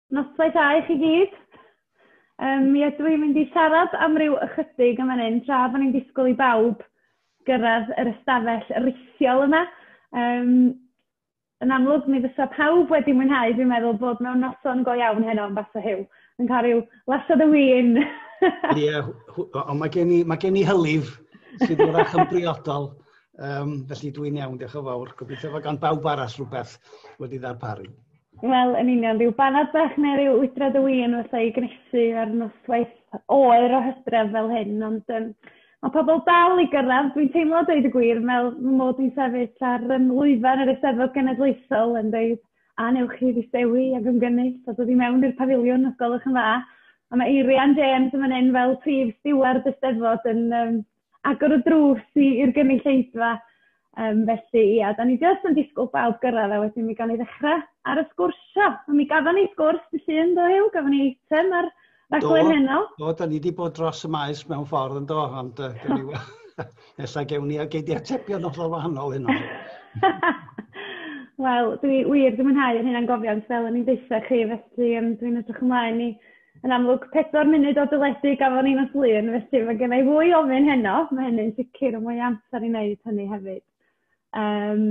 Noswaith dda i chi gyd. Um, mi ydw i'n mynd i siarad am ryw ychydig am hynny'n tra bod ni'n disgwyl i bawb gyrraedd yr ystafell rithiol yma. Um, Yn amlwg, mi fysa pawb wedi mwynhau, dwi'n meddwl, bod mewn noson go iawn heno yn Basso Huw, yn cael rhyw lasoed o win. Ie, yeah, ond mae gen i, mae gen i hylif sydd yn fach yn briodol, um, felly dwi'n iawn, diolch yn fawr. Gobeithio fod gan bawb arall rhywbeth wedi ddarparu. Wel, yn union, rhyw banad bach neu rhyw wydrad o win wrth ei gnesu ar noswaith oer o hydref fel hyn, ond um, Mae pobl dal i gyrraedd, dwi'n teimlo a dweud y gwir, fel fy mod i'n sefyll ar yym lwyfan yr Eisteddfod Genedlaethol yn deud, a wnewch chi ddistewi ac ymgynnull a dod i mewn i'r pafiliwn os gwelwch yn dda. A mae Eirian James yn fan hyn fel prif stiward y 'Steddfod yn yym, agor y drws i i'r gynulleidfa. Um, felly, ia, da ni jyst yn disgwyl bawb gyrraedd a wedyn mi gan ni ddechrau ar y sgwrsio. Mi gafon ni sgwrs dy llun, do Huw? Gafon ni eitem ar raglen heno. Do, da ni wedi bod dros y maes mewn ffordd yn do, ond uh, da ni... Ella gewn ni a gei di atebion o'r wahanol hyn o'n. Wel, dwi wir, dwi'n mwynhau yr hyn a'n gofiant fel o'n i'n dweud chi, felly um, dwi'n edrych ymlaen i Yn amlwg, pedwar munud o deledu gafon ni nos Lun, felly mae gen i fwy o ofyn heno, mae hynny'n sicr, ond mwy amser i wneud hynny hefyd. Um,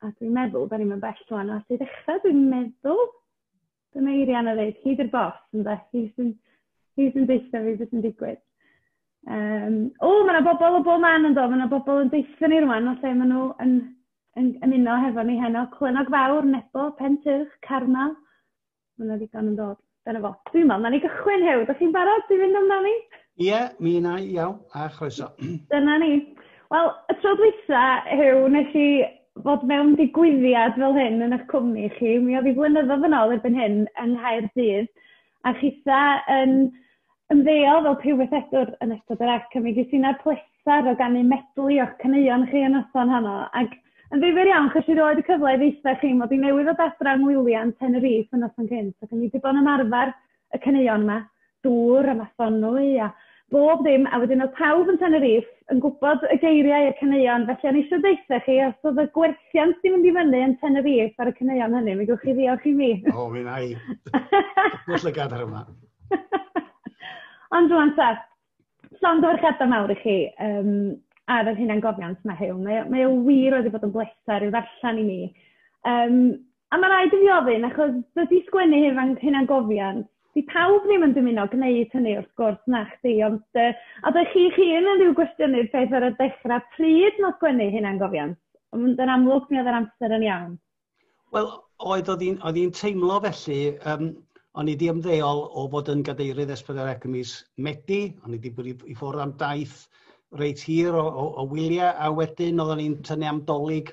a dwi'n meddwl, da ni'n mynd bell rwan, a sy'n ddechrau, dwi'n meddwl, dyna Eirian a ddeud, hyd i'r bos, yn dweud, hyd sy'n hyd yn deitha fi beth sy'n digwydd. Um, o, mae yna bobl o bob man yn dod, mae yna bobl yn deitha ni rwan, o lle maen nhw yn, yn, yn ymuno hefo ni heno. Clynog Fawr, Nebo, Pentyrch, Carmel, Mae'n wedi gan yn dod. Dyna fo. Dwi'n meddwl, na ni gychwyn hew. Da chi'n barod i fynd amdani? Ie, yeah, mi yna i, iawn, a chroeso. Dyna ni. Wel, y tro dwytha, hew, nes i fod mewn digwyddiad fel hyn yn eich cwmni chi. Mi oedd i flynyddoedd yn ôl erbyn hyn yng Nghaerdydd. A chitha yn Ymddeol fel prywythedwr yn ystod yr ac mi ges i na'r pleser o ganu medley o'ch caneuon chi y noson honno ac yn ddifyr iawn chi roed y cyfle i ddeitha chi mod i newydd ddod adra yng ngwyliau Tenerife y noson cynt ac o'n i 'di bod yn ymarfer y caneuon 'ma, dŵr a mathonwy a bob dim a wedyn oedd pawb yn Tenerife yn gwybod y geiriau i'r caneuon felly o'n i eisiau deutha chi os oedd y gwerthiant 'di mynd i fyny yn Tenerife ar y caneuon hynny mi gewch chi ddiolch i mi. O mi wna i. Pwll y gadar yma. Ond rwan ta, llongyfarchiadau mawr i chi yym ar yr hunangofiant 'ma heddiw. Mae o mae o wir wedi bod yn bleser i'w ddarllen i mi. Yym a ma' raid i fi ofyn achos dydi sgwennu hunan hunangofiant... 'di pawb ddim yn dymuno gwneud hynny wrth gwrs, nachdi? Ond yy a dych chi'ch hun yn ryw gwestiynydd peth ar y dechra, pryd ma' sgwennu hunangofiant? Ond yn amlwg mi oedd yr amser yn iawn. Wel, oedd oedd hi'n oedd hi'n teimlo felly, um, o'n i di ymddeol o fod yn gadeirydd esbydderau cymys Medi, o'n i di bod i, i ffwrdd am daith reit hir o, o, o wyliau, a wedyn oeddwn i'n tynnu am dolyg,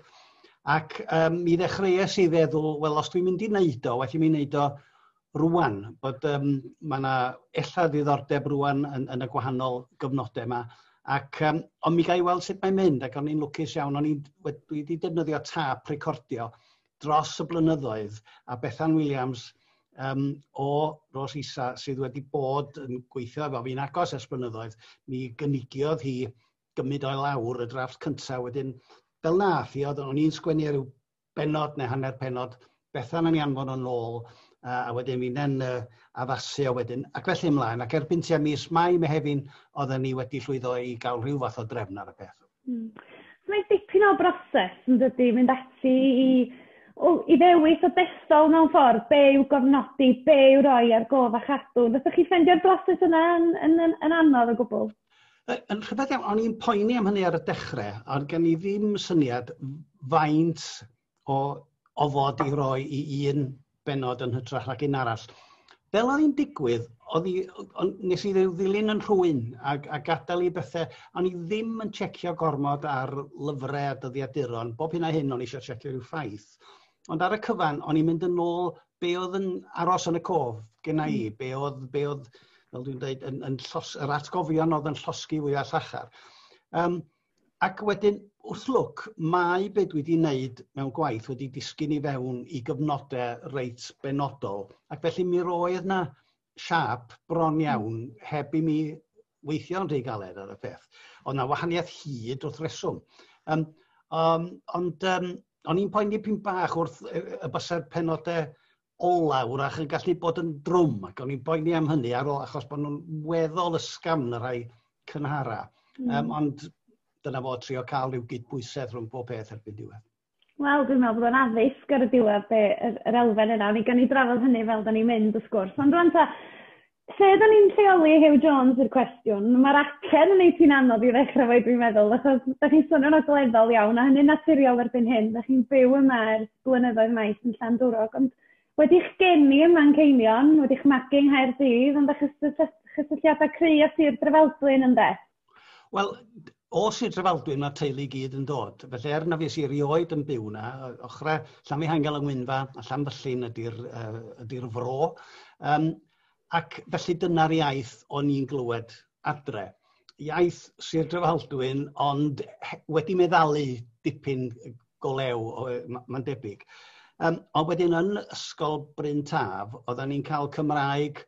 ac um, mi ddechreuais i feddwl, wel, os dwi'n mynd i wneud o, well i mi wneud o rwan, bod um, mae yna ella ddiddordeb rwan yn, yn y gwahanol gyfnodau yma. Ac, um, ond mi gael i weld sut mae'n mynd, ac o'n i'n lwcus iawn, o'n i'n wedi defnyddio tap recordio dros y blynyddoedd, a Bethan Williams um, o Ros Isa sydd wedi bod yn gweithio efo fi'n agos ers blynyddoedd, mi gynigiodd hi gymryd o'i lawr y drafft cyntaf wedyn fel na, fi oedd o'n i'n sgwennu ar ryw bennod neu hanner pennod, Bethan yn ei anfon o'n ôl, uh, a wedyn finne'n uh, addasu a wedyn, ac felly ymlaen. Ac erbyn tua mis Mai, Mehefin, oedden ni wedi llwyddo i gael rhyw fath o drefn ar y peth. Mm. So mae dipyn o broses yn dydy, mynd ati i, o, i ddewis o dethol mewn ffordd, be yw gofnodi, be yw roi ar gof a chadw. Fyddwch chi ffendio'r broses yna yn, yn, yn, yn anodd o gwbl? Yy yn rhyfedd iawn, o'n i'n poeni am hynny ar y dechrau, ond gen i ddim syniad faint o ofod i roi i un benod yn hytrach nag un arall. Fel oedd hi'n digwydd, oedd i, nes i ddilyn yn rhwy'n ac, a gadael i bethau, o'n i ddim yn checio gormod ar lyfrau a dyddiaduron, bob hyn a hyn o'n i eisiau checio rhyw ffaith. Ond ar y cyfan, o'n i'n mynd yn ôl be oedd yn aros yn y cof genna i, mm. be oedd, be oedd fel dwi'n dweud, yn, yn llos, yr atgofion oedd yn llosgi fwy a llachar. Um, ac wedyn, wrth lwc, mae beth dwi wedi wneud mewn gwaith wedi disgyn i fewn i gyfnodau reit benodol. Ac felly mi roedd na siâp bron iawn heb i mi weithio'n rhy galed ar y peth. Oedd yna wahaniaeth hyd wrth reswm. Um, um, ond um, o'n i'n poeni pyn bach wrth y bysau'r penodau ola wrach yn gallu bod yn drwm ac o'n i'n poeni am hynny ar ôl achos bod nhw'n weddol ysgam yn y rhai cynhara. Mm. Um, ond dyna fo trio cael rhyw gydbwysedd rhwng pob peth erbyn diwedd. Wel dwi'n meddwl bod o'n addysg ar y diwedd be' yr yr elfen yna o'n i gawn ni drafod hynny fel 'dan ni'n mynd wrth gwrs ond rŵan ta lle 'dan ni'n lleoli Huw Jones yw'r cwestiwn. Ma'r acen yn neud hi'n anodd i ddechra 'fo 'i dwi'n meddwl achos 'dach chi'n swnio'n ogleddol iawn a hynny'n naturiol erbyn hyn 'dach chi'n byw yma ers blynyddoedd maith yn Llandwrog ond wedi'ch geni ym Manceinion wedi'ch magu yng Nghaerdydd ond 'dach chi cysylltiada cry' â Sir Drefaldwyn ynde? Wel, o Sir Drefaldwyn mae'r teulu i gyd yn dod. Felly er na fi si erioed yn byw na, ochrau Llanfihangel yng Ngwynfa a Llanfyllin ydy'r uh, ydy fro. Um, ac felly dyna'r iaith o'n i'n glywed adre. Iaith Sir Drefaldwyn, ond wedi meddalu dipyn go lew, mae'n debyg. Um, ond wedyn yn Ysgol Bryn Taf, oedden ni'n cael Cymraeg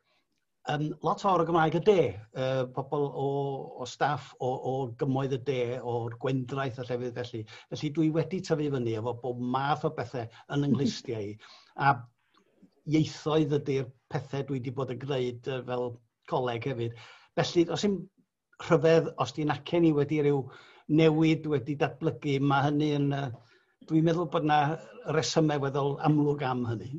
Yn lot fawr o Gymraeg y de, uh, pobl o, o staff o, o gymoedd y de, o'r gwendraeth a llefydd felly. Felly dwi wedi tyfu fyny efo bob math o bethau yn ynghlwystiau i. A ieithoedd ydy'r pethau dwi wedi bod yn gwneud fel coleg hefyd. Felly, os yw'n rhyfedd, os di'n acen i wedi rhyw newid wedi datblygu, mae hynny yn... Dwi'n meddwl bod yna resymau weddol amlwg am hynny.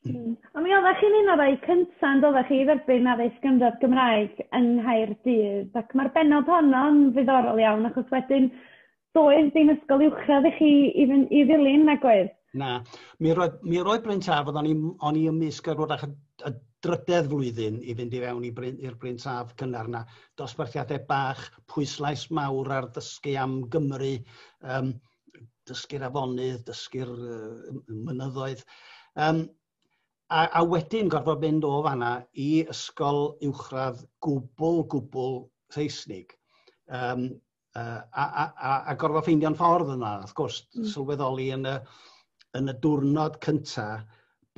Mm. A mi oeddech chi'n un o'r rhai cyntaf yn doeddech chi i dderbyn addysg gynradd Gymraeg yng Nghaerdydd, ac mae'r benod honno'n ddiddorol iawn, achos wedyn Doedd dim ysgol uwchradd i chi i, fyn, i ddilyn, nag oedd? Na. Mi roedd, mi roedd Bryn Taf, oedd o'n i, on i ymysg ar wrach y, y drydedd flwyddyn i fynd i fewn i'r Bryn, Bryn Taf cynnar na. Dosbarthiadau bach, pwyslais mawr ar ddysgu am Gymru, um, dysgu'r afonydd, dysgu'r uh, mynyddoedd. Um, a, a wedyn gorfod mynd o fanna i ysgol uwchradd gwbl, gwbl Saesnig. Um, yy a a a a gorfo ffeindio'n ffordd yna wrth gwrs... Hmm. ...sylweddoli yn y yn y diwrnod cynta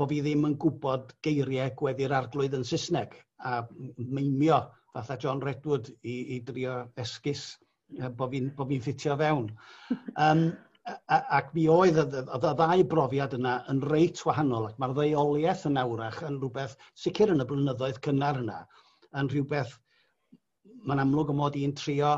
bo' fi ddim yn gwbod geirie gweddi'r Arglwydd yn Sysneg a m- m- meinio fatha John Redwood i i drio esgus yy bo' fi'n bo' fi'n ffitio fewn. Yym a- a- ac mi oedd y dd- o'dd y ddau brofiad yna yn reit wahanol ac ma'r ddeuolieth yna 'w'rach yn rwbeth sicir yn y blynyddoedd cynnar yna yn rhywbeth mae'n amlwg y mod i'n trio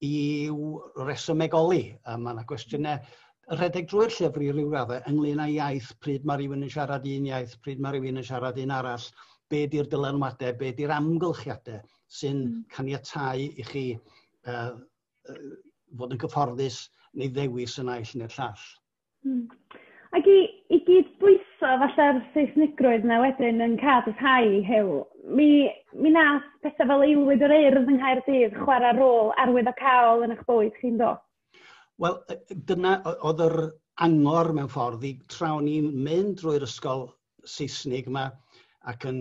i'w resymegoli. A mae yna gwestiynau rhedeg drwy'r llyfr i ryw raddau ynglyn â iaith, pryd mae rhywun yn siarad un iaith, pryd mae rhywun yn siarad un arall, be di'r dylanwadau, be di'r amgylchiadau sy'n hmm. caniatau i chi uh, fod yn gyfforddus neu ddewis y naill neu'r llall. Hmm. Ac i i gyd-bwyso falla'r Saesnigrwydd 'na wedyn yn ca'l dy rhai Huw, mi mi nath pethe fel aelwyd yr Urdd yng Nghaerdydd chwara' rôl arwyddocaol yn 'ych bywyd chi yndo? Wel yy dyna o- o'dd yr angor mewn ffordd i tra o'n i'n mynd drwy'r ysgol Seisnig yma ac yn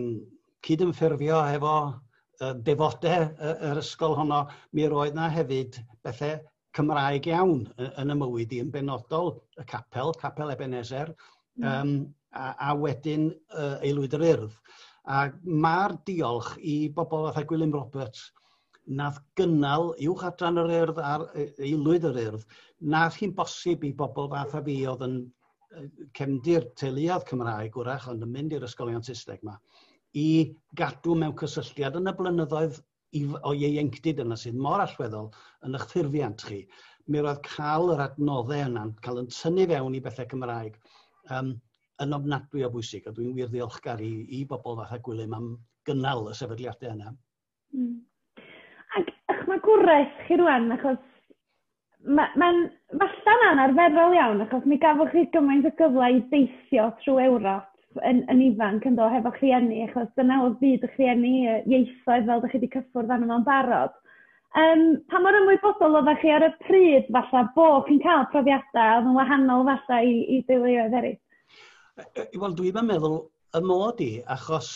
cydymffurfio hefo uh, defodau uh, yr ysgol honno, mi roedd yna hefyd bethau Cymraeg iawn yn y mywyd i yn benodol y capel, capel Ebenezer, mm. um, a, a wedyn uh, aelwyd yr urdd. A mae'r diolch i bobl fatha Gwilym Roberts, nath gynnal uwch adran yr urdd a'r aelwyd yr urdd, nath hi'n bosib i bobl fath a fi oedd yn yy cefndir teuluodd Cymraeg wrach ond yn mynd i'r ysgolion Saesneg 'ma i gadw mewn cysylltiad yn y blynyddoedd i f- o ieuenctid yna sydd mor allweddol yn eich ffurfiant chi. Mi roedd cael yr adnodde yna'n cael yn tynnu fewn i bethau Cymraeg um, yn ofnadwy o bwysig a dwi'n wir ddiolchgar i, i bobl fatha Gwilym am gynnal y sefydliadau yna. Hmm. Ac 'ych ma' gwres chi rŵan achos ma' ma'n falla'n anarferol iawn achos mi gafoch chi gymaint o gyfle i deithio trw Ewrop yn yn ifanc yndo hefo'ch rhieni achos dyna odd byd y'ch rhieni yy ieithoedd fel dych chi 'di cyffwrdd arno fo'n barod. Yym pa mor ymwybodol odda chi ar y pryd falla bo' chi'n ca'l profiada odd yn wahanol falla i i deuluoedd eryll? Yy yy wel dwi'm yn meddwl y mod i achos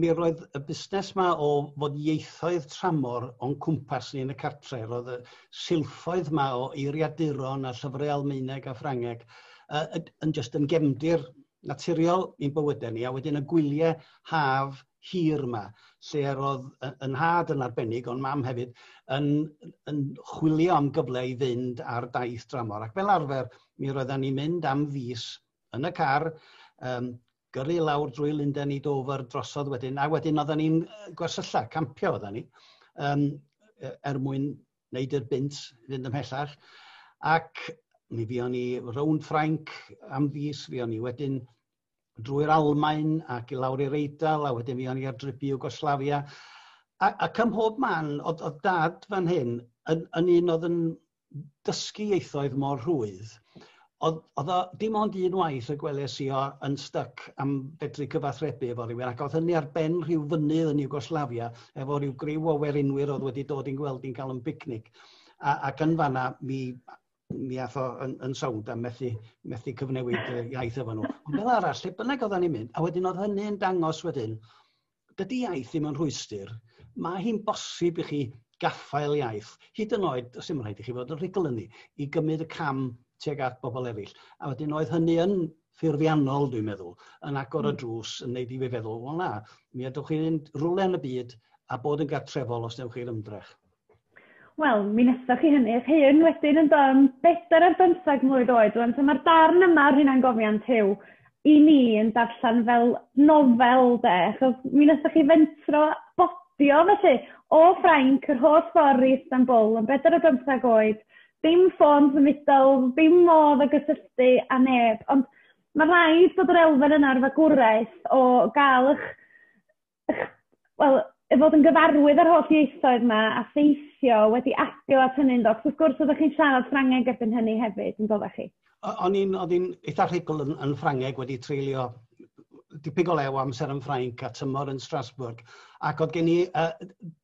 mi roedd y busnes yma o fod ieithoedd tramor o'n cwmpas ni yn y cartre. Roedd y silffoedd yma o eiriaduron a llyfrau Almaeneg a Ffrangeg uh, yn just yn gefndir naturiol i'n bywydau ni. A wedyn y gwyliau haf hir yma, lle roedd yn had yn arbennig, ond mam hefyd, yn, yn chwilio am gyfle i fynd ar daith dramor. Ac fel arfer, mi roedden ni'n mynd am fus yn y car, um, gyrru i lawr drwy Lundain i Dover drosodd wedyn a wedyn oedden ni'n gwersylla, campio oedden ni um, er mwyn wneud i'r bint fynd ymhellach ac mi fi o'n i rownd Ffrainc am fus, fi o'n i wedyn drwy'r Almain ac i lawr i'r Eidal a wedyn fi o'n i ar drip i Yugoslavia ac ym mhob man oedd dad fan hyn yn un oedd yn dysgu ieithoedd mor rhwydd, oedd, oedd o dim ond un waith y gwelais i o yn styc am fedru cyfathrebu efo rhywun, ac oedd hynny ar ben rhyw fynydd yn Iwgoslafia, efo rhyw griw o werinwyr oedd wedi dod i'n gweld i'n cael yn bicnic. A, ac yn fanna, mi, mi ath o yn, yn sownd a methu, methu cyfnewid iaith efo nhw. Ond fel arall, lle bynnag oedden ni'n mynd, a wedyn oedd hynny'n dangos wedyn, dydy iaith ddim yn rhwystr. Mae hi'n bosib i chi gaffael iaith, hyd yn oed, os dim rhaid i chi fod yn rhugl ni, i gymryd y cam tuag at bobl eraill. A wedyn oedd hynny yn ffurfiannol, dwi'n meddwl, yn agor y hmm. drws, yn neud i fi feddwl, wel na, mi ydwch chi'n mynd rwle yn y byd a bod yn gartrefol os newch chi'r ymdrech. Wel, mi wnaethoch chi hynny eich hun wedyn yn do, bedair ar bymtheg mlwydd oed rŵan, so mae'r darn yma o'r hunangofiant Huw i ni yn darllen fel nofel 'de, achos mi wnaethoch chi fentro bodio felly o Ffrainc yr holl ffordd i Istanbul yn bedair ar bymtheg oed, dim ffôn symudol, dim modd o gysylltu â neb, ond mae'n rhaid bod yr elfen yna o'r fagwraeth o gael eich wel, i fod yn gyfarwydd â'r holl ieithoedd 'ma a theithio wedi adio at hynny yndo? Achos wrth gwrs oeddech chi'n siarad Ffrangeg erbyn hynny hefyd yn doeddech chi? O- o'n i'n o'n i'n eitha rhugl yn yn Ffrangeg wedi treulio dipyn o le o amser yn Ffrainc a tymor yn Strasbourg ac oedd gen i uh,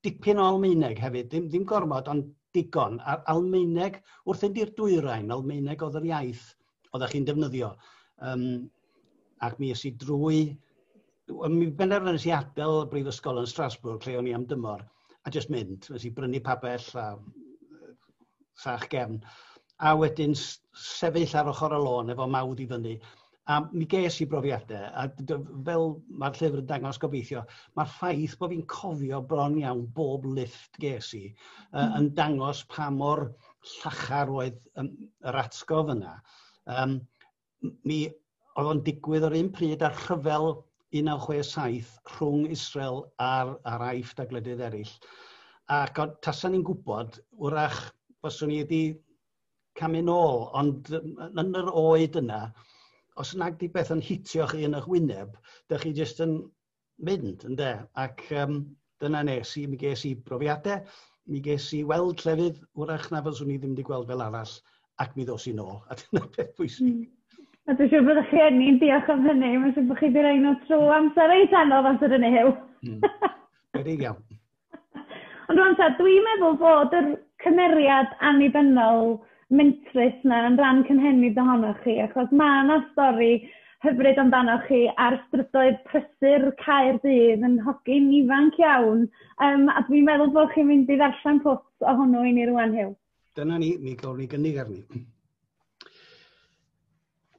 dipyn o Almaeneg hefyd, ddim, ddim gormod ond digon. A'r Almaeneg, wrth fynd i'r dwyrain, Almaeneg oedd yr iaith oeddech chi'n defnyddio. Um, ac mi ys i drwy... Mi benderfynais i adael y brifysgol yn Strasbourg lle o'n i am dymor a jyst mynd. Nes i brynu pabell a sach gefn. A wedyn sefyll ar ochr y lôn efo mawd i fyny. A mi ges i brofiadau, a fel mae'r llyfr yn dangos gobeithio, mae'r ffaith bod fi'n cofio bron iawn bob lift ges i, uh, yn dangos pa mor llachar oedd um, yr atgof yna. Um, mi oedd o'n digwydd o'r un pryd ar rhyfel 1967 rhwng Israel a'r, ar aiff da glydydd eraill. Ac o'n tasan ni'n gwybod, wrach, fyswn ni wedi camu nôl, ond yn yr oed yna, os nag di beth yn hitioch un o'ch wyneb, da chi jyst yn mynd ynde ac yym dyna nes i, mi ges i brofiadau, mi ges i weld llefydd wrach na fyswn i ddim wedi gweld fel arall ac mi ddos i'n ôl a dyna beth bwysig. Mm. A dwi'n siŵr bod chi enni'n diolch am hynny, mae'n siŵr bod chi wedi rhoi nhw trwy amser reit anodd amser yn eu hyw. Mm. Wedi iawn. Ond rŵan ta, dwi'n meddwl bod yr cymeriad annibynnol mentrus 'na yn ran cynhenid ohonoch chi, achos ma' 'na stori hyfryd amdanoch chi ar strydoedd prysur Caerdydd yn hogyn ifanc iawn, yym a dwi'n meddwl bod chi'n mynd i ddarllen pwt o hwnnw i ni rŵan Huw. Dyna ni, mi gawn ni gynnig arni.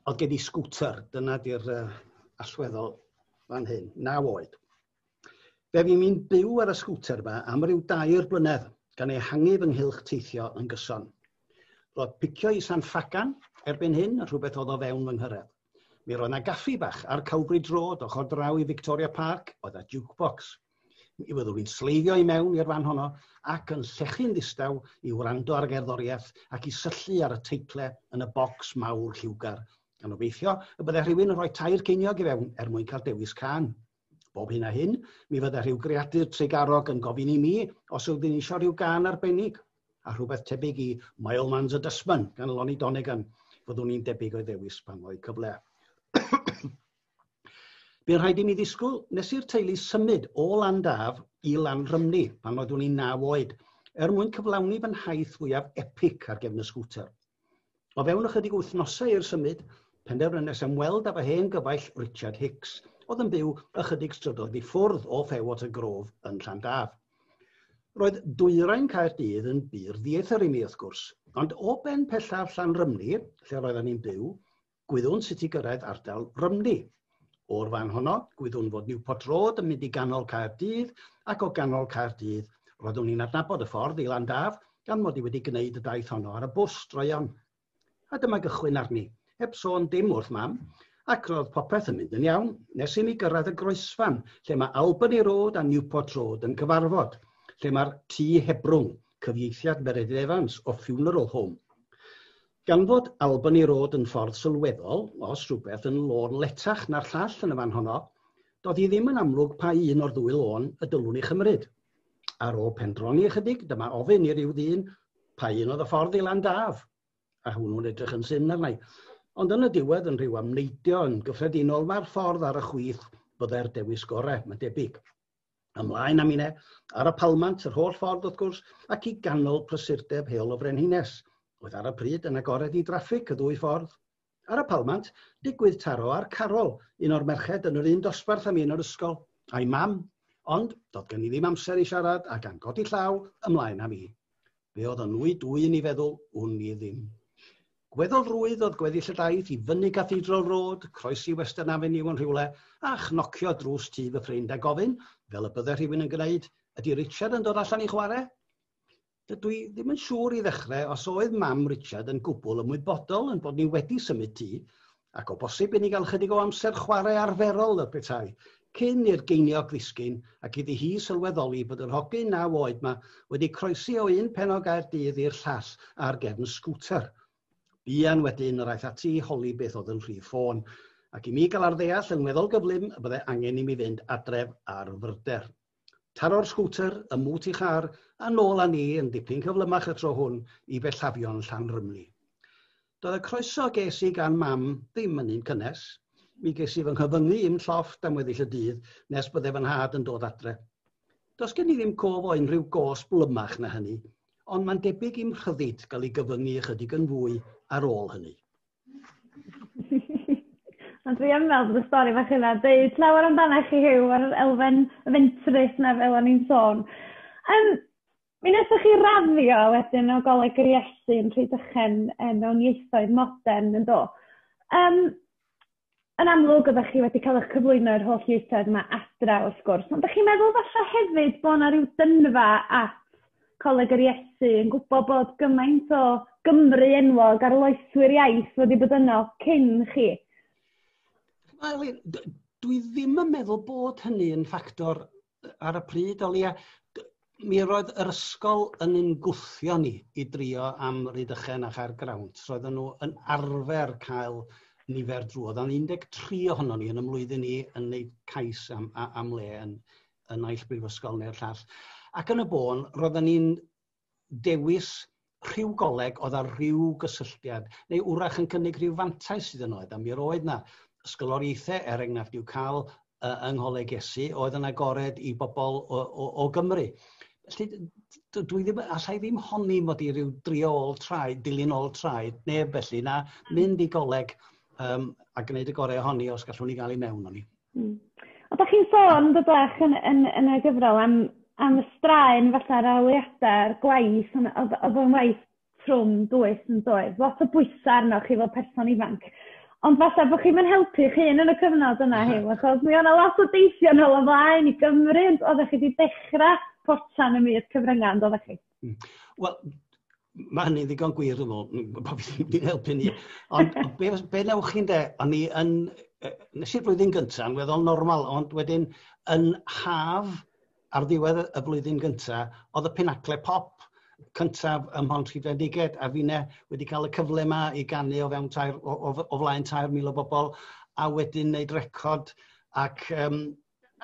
Oedd gen i sgwter, dyna 'di'r uh, allweddol fan hyn, naw oed. Fe fu'n i'n byw ar y sgwter yma am ryw dair blynedd, gan ehangu fy nghylch teithio yn gyson. Roedd picio i San Ffagan erbyn hyn yn rhywbeth oedd o fewn fy nghyrraedd. Mi roedd 'na gaffi bach ar Cowbridge Road, ochr draw i Victoria Park, oedd 'na jukebox. Mi fyddwn i'n sleifio i mewn i'r fan honno ac yn llechu'n ddistaw i wrando ar y gerddoriaeth ac i syllu ar y teitle yn y bocs mawr lliwgar, gan obeithio y bydde rhywun yn rhoi tair ceiniog i fewn er mwyn cael dewis cân. Bob hyn a hyn, mi fydda rhyw greadur trugarog yn gofyn i mi os oedd yn eisiau rhyw gan arbennig, a rhywbeth tebyg i Mileman's a Dustman gan Lonnie Donegan, fyddwn i'n debyg o'i ddewis pan fo'i cyfle. Bu'n rhaid i mi ddisgwyl nes i'r teulu symud o Landaf i Lanrymni pan oeddwn i'n naw oed, er mwyn cyflawni fy nhaith fwyaf epic ar gefn y sgwter. O fewn ychydig wythnosau i'r symud, penderfynes ymweld â fy hen gyfaill Richard Hicks, oedd yn byw ychydig strydoedd i ffwrdd o Fairwater Grove yn Llandaf. Roedd dwyrain Caerdydd yn bur ddieithr i mi, wrth gwrs, ond o ben pellaf Llanrymni, lle roeddan ni'n byw, Gwyddwn sut i gyrraedd ardal Rymni. O'r fan honno, gwyddwn fod Newport Road yn mynd i ganol Caerdydd ac o ganol Caerdydd, roeddwn i'n adnabod y ffordd i Landaf gan mod i wedi gwneud y daith honno ar y bws droeon. A dyma gychwyn arni, heb sôn dim wrth Mam, ac roedd popeth yn mynd yn iawn, nes i mi gyrraedd y groesfan lle mae Albany Road a Newport Road yn cyfarfod, lle mae'r Tŷ Hebrwng, cyfieithiad Meredydd Evans o Funeral Home. Gan fod Albany Road yn ffordd sylweddol, os rhywbeth, yn lôn letach na'r llall yn y fan honno, doedd hi ddim yn amlwg pa un o'r ddwy lôn y dylwn i chymryd. Ar ôl pendroni ychydig, dyma ofyn i ryw ddyn pa un oedd y ffordd i Landaf, a hwnnw'n edrych yn syn arnau. Ond yn y diwedd, yn rhyw amneidio yn gyffredinol, mae'r ffordd ar y chwith byddai'r dewis gorau, mae'n debyg. Ymlaen â mine, ar y palmant, yr holl ffordd wrth gwrs, ac i ganol prysurdeb heol y Frenhines. Oedd ar y pryd yn agored i draffig y ddwy ffordd. Ar y palmant, digwydd taro ar Carol, un o'r merched yn yr un dosbarth â mi yn yr ysgol, a'i mam, ond doedd gen i ddim amser i siarad a gan godi llaw, ymlaen â mi. Fe oedd yn wy dwyn i feddwl, wn i ddim. Gweddol rwydd oedd gweddill y daith i fyny Cathedral Road, croesi Western Avenue yn rhywle, a chnocio drws tŷ fy ffrind a gofyn, fel y bydde rhywun yn gwneud, ydy Richard yn dod allan i chwarae? Dydw i ddim yn siŵr i ddechrau os oedd mam Richard yn gwbl ymwybodol yn bod ni wedi symud tŷ, ac o bosib i ni gael ychydig o amser chwarae arferol fel petai, cyn i'r geiniog ddisgyn ac iddi hi sylweddoli bod yr hogyn naw oed 'ma wedi croesi o un pen o Gaerdydd i'r llall ar gefn sgwter. Buan wedyn yr aeth ati i holi beth oedd yn rhif ffôn, ac i mi gael ar ddeall yn weddol gyflym y bydde angen i mi fynd adref ar fyrder. Taro'r sgwter ym mhŵt ei char a nôl â ni yn dipyn cyflymach y tro hwn i bellafion Llanrymni. Doedd y croeso ges i gan Mam ddim yn un cynnes. Mi ges i fy nghyfyngu i'm llofft am weddill y dydd nes bydde fy nhad yn dod adre. Does gen i ddim cof o unrhyw gôs blymach na hynny, ond mae'n debyg i'm rhyddid gael ei gyfyngu ychydig yn fwy ar ôl hynny. Ond dwi yn meddwl bod y stori bach yna deud llawer amdana chi Huw a'r elfen fentrus 'na fel o'n i'n sôn. Yym mi nesa chi raddio wedyn o Goleg yr Iesu yn Rhydychen yy mewn ieithoedd modern yndo? Yym yn amlwg oeddech chi wedi cael eich cyflwyno i'r holl ieithoedd yma adra wrth gwrs, ond dych chi'n meddwl falle hefyd bod yna rhyw dynfa at Coleg yr Iesu yn gwybod bod gymaint o Gymru enwog ar loeswyr iaith wedi bod yno cyn chi? Wel, dwi ddim yn meddwl bod hynny yn ffactor ar y pryd, o leia, mi roedd yr ysgol yn yn gwthio ni i drio am Rhydychen a Chaer Grawnt. Roedden nhw yn arfer cael nifer drwodd. Ond 13 ohono ni yn y mlwyddyn ni yn wneud cais am, am le yn, yn naill brifysgol neu'r llall. Ac yn y bôn, roedden ni'n dewis rhyw goleg oedd â rhyw gysylltiad, neu wrach yn cynnig rhyw fantais iddyn nhw, a mi roedd 'na ysgoloriaethau, er enghraifft, i'w cael yng Ngholeg Iesu, oedd yn agored i bobl o, o, o Gymru. Felly, dwi ddim, allai ddim honni mod i rhyw drio ôl traed, dilyn ôl traed, neb felly, na mynd i goleg um, a gwneud y gorau ohoni os gallwn ni gael ei mewn o'n i. Hmm. Ond dach chi'n sôn do bach yn yn yn y gyfrol am am y straen fatha rheoliada'r gwaith on' odd odd o'n waith trwm dwys yndoedd? Lot o bwysa' arnoch chi fel person ifanc. Ond falla bo' chi'm yn helpu'ch hun yn y cyfnod yna Huw achos mi o' 'na lot o deithio nôl a mlaen i Gymru ond oddach chi 'di dechra potsian ym myd cyfrynga' on'd oddach chi? Hmm. Wel, mae hynny'n ddigon gwir yn ôl, bod fi ddim wedi'n helpu ni. Ond be, be newch chi'n de, o'n i yn, nes i'r flwyddyn gyntaf yn weddol normal, ond wedyn yn haf ar ddiwedd y flwyddyn gyntaf, oedd y penacle pop cyntaf ym Mhont Rhydfendiged, a fine wedi cael y cyfle yma i gannu o fewn tair, o, o, o flaen 3,000 o bobl, a wedyn wneud record ac um,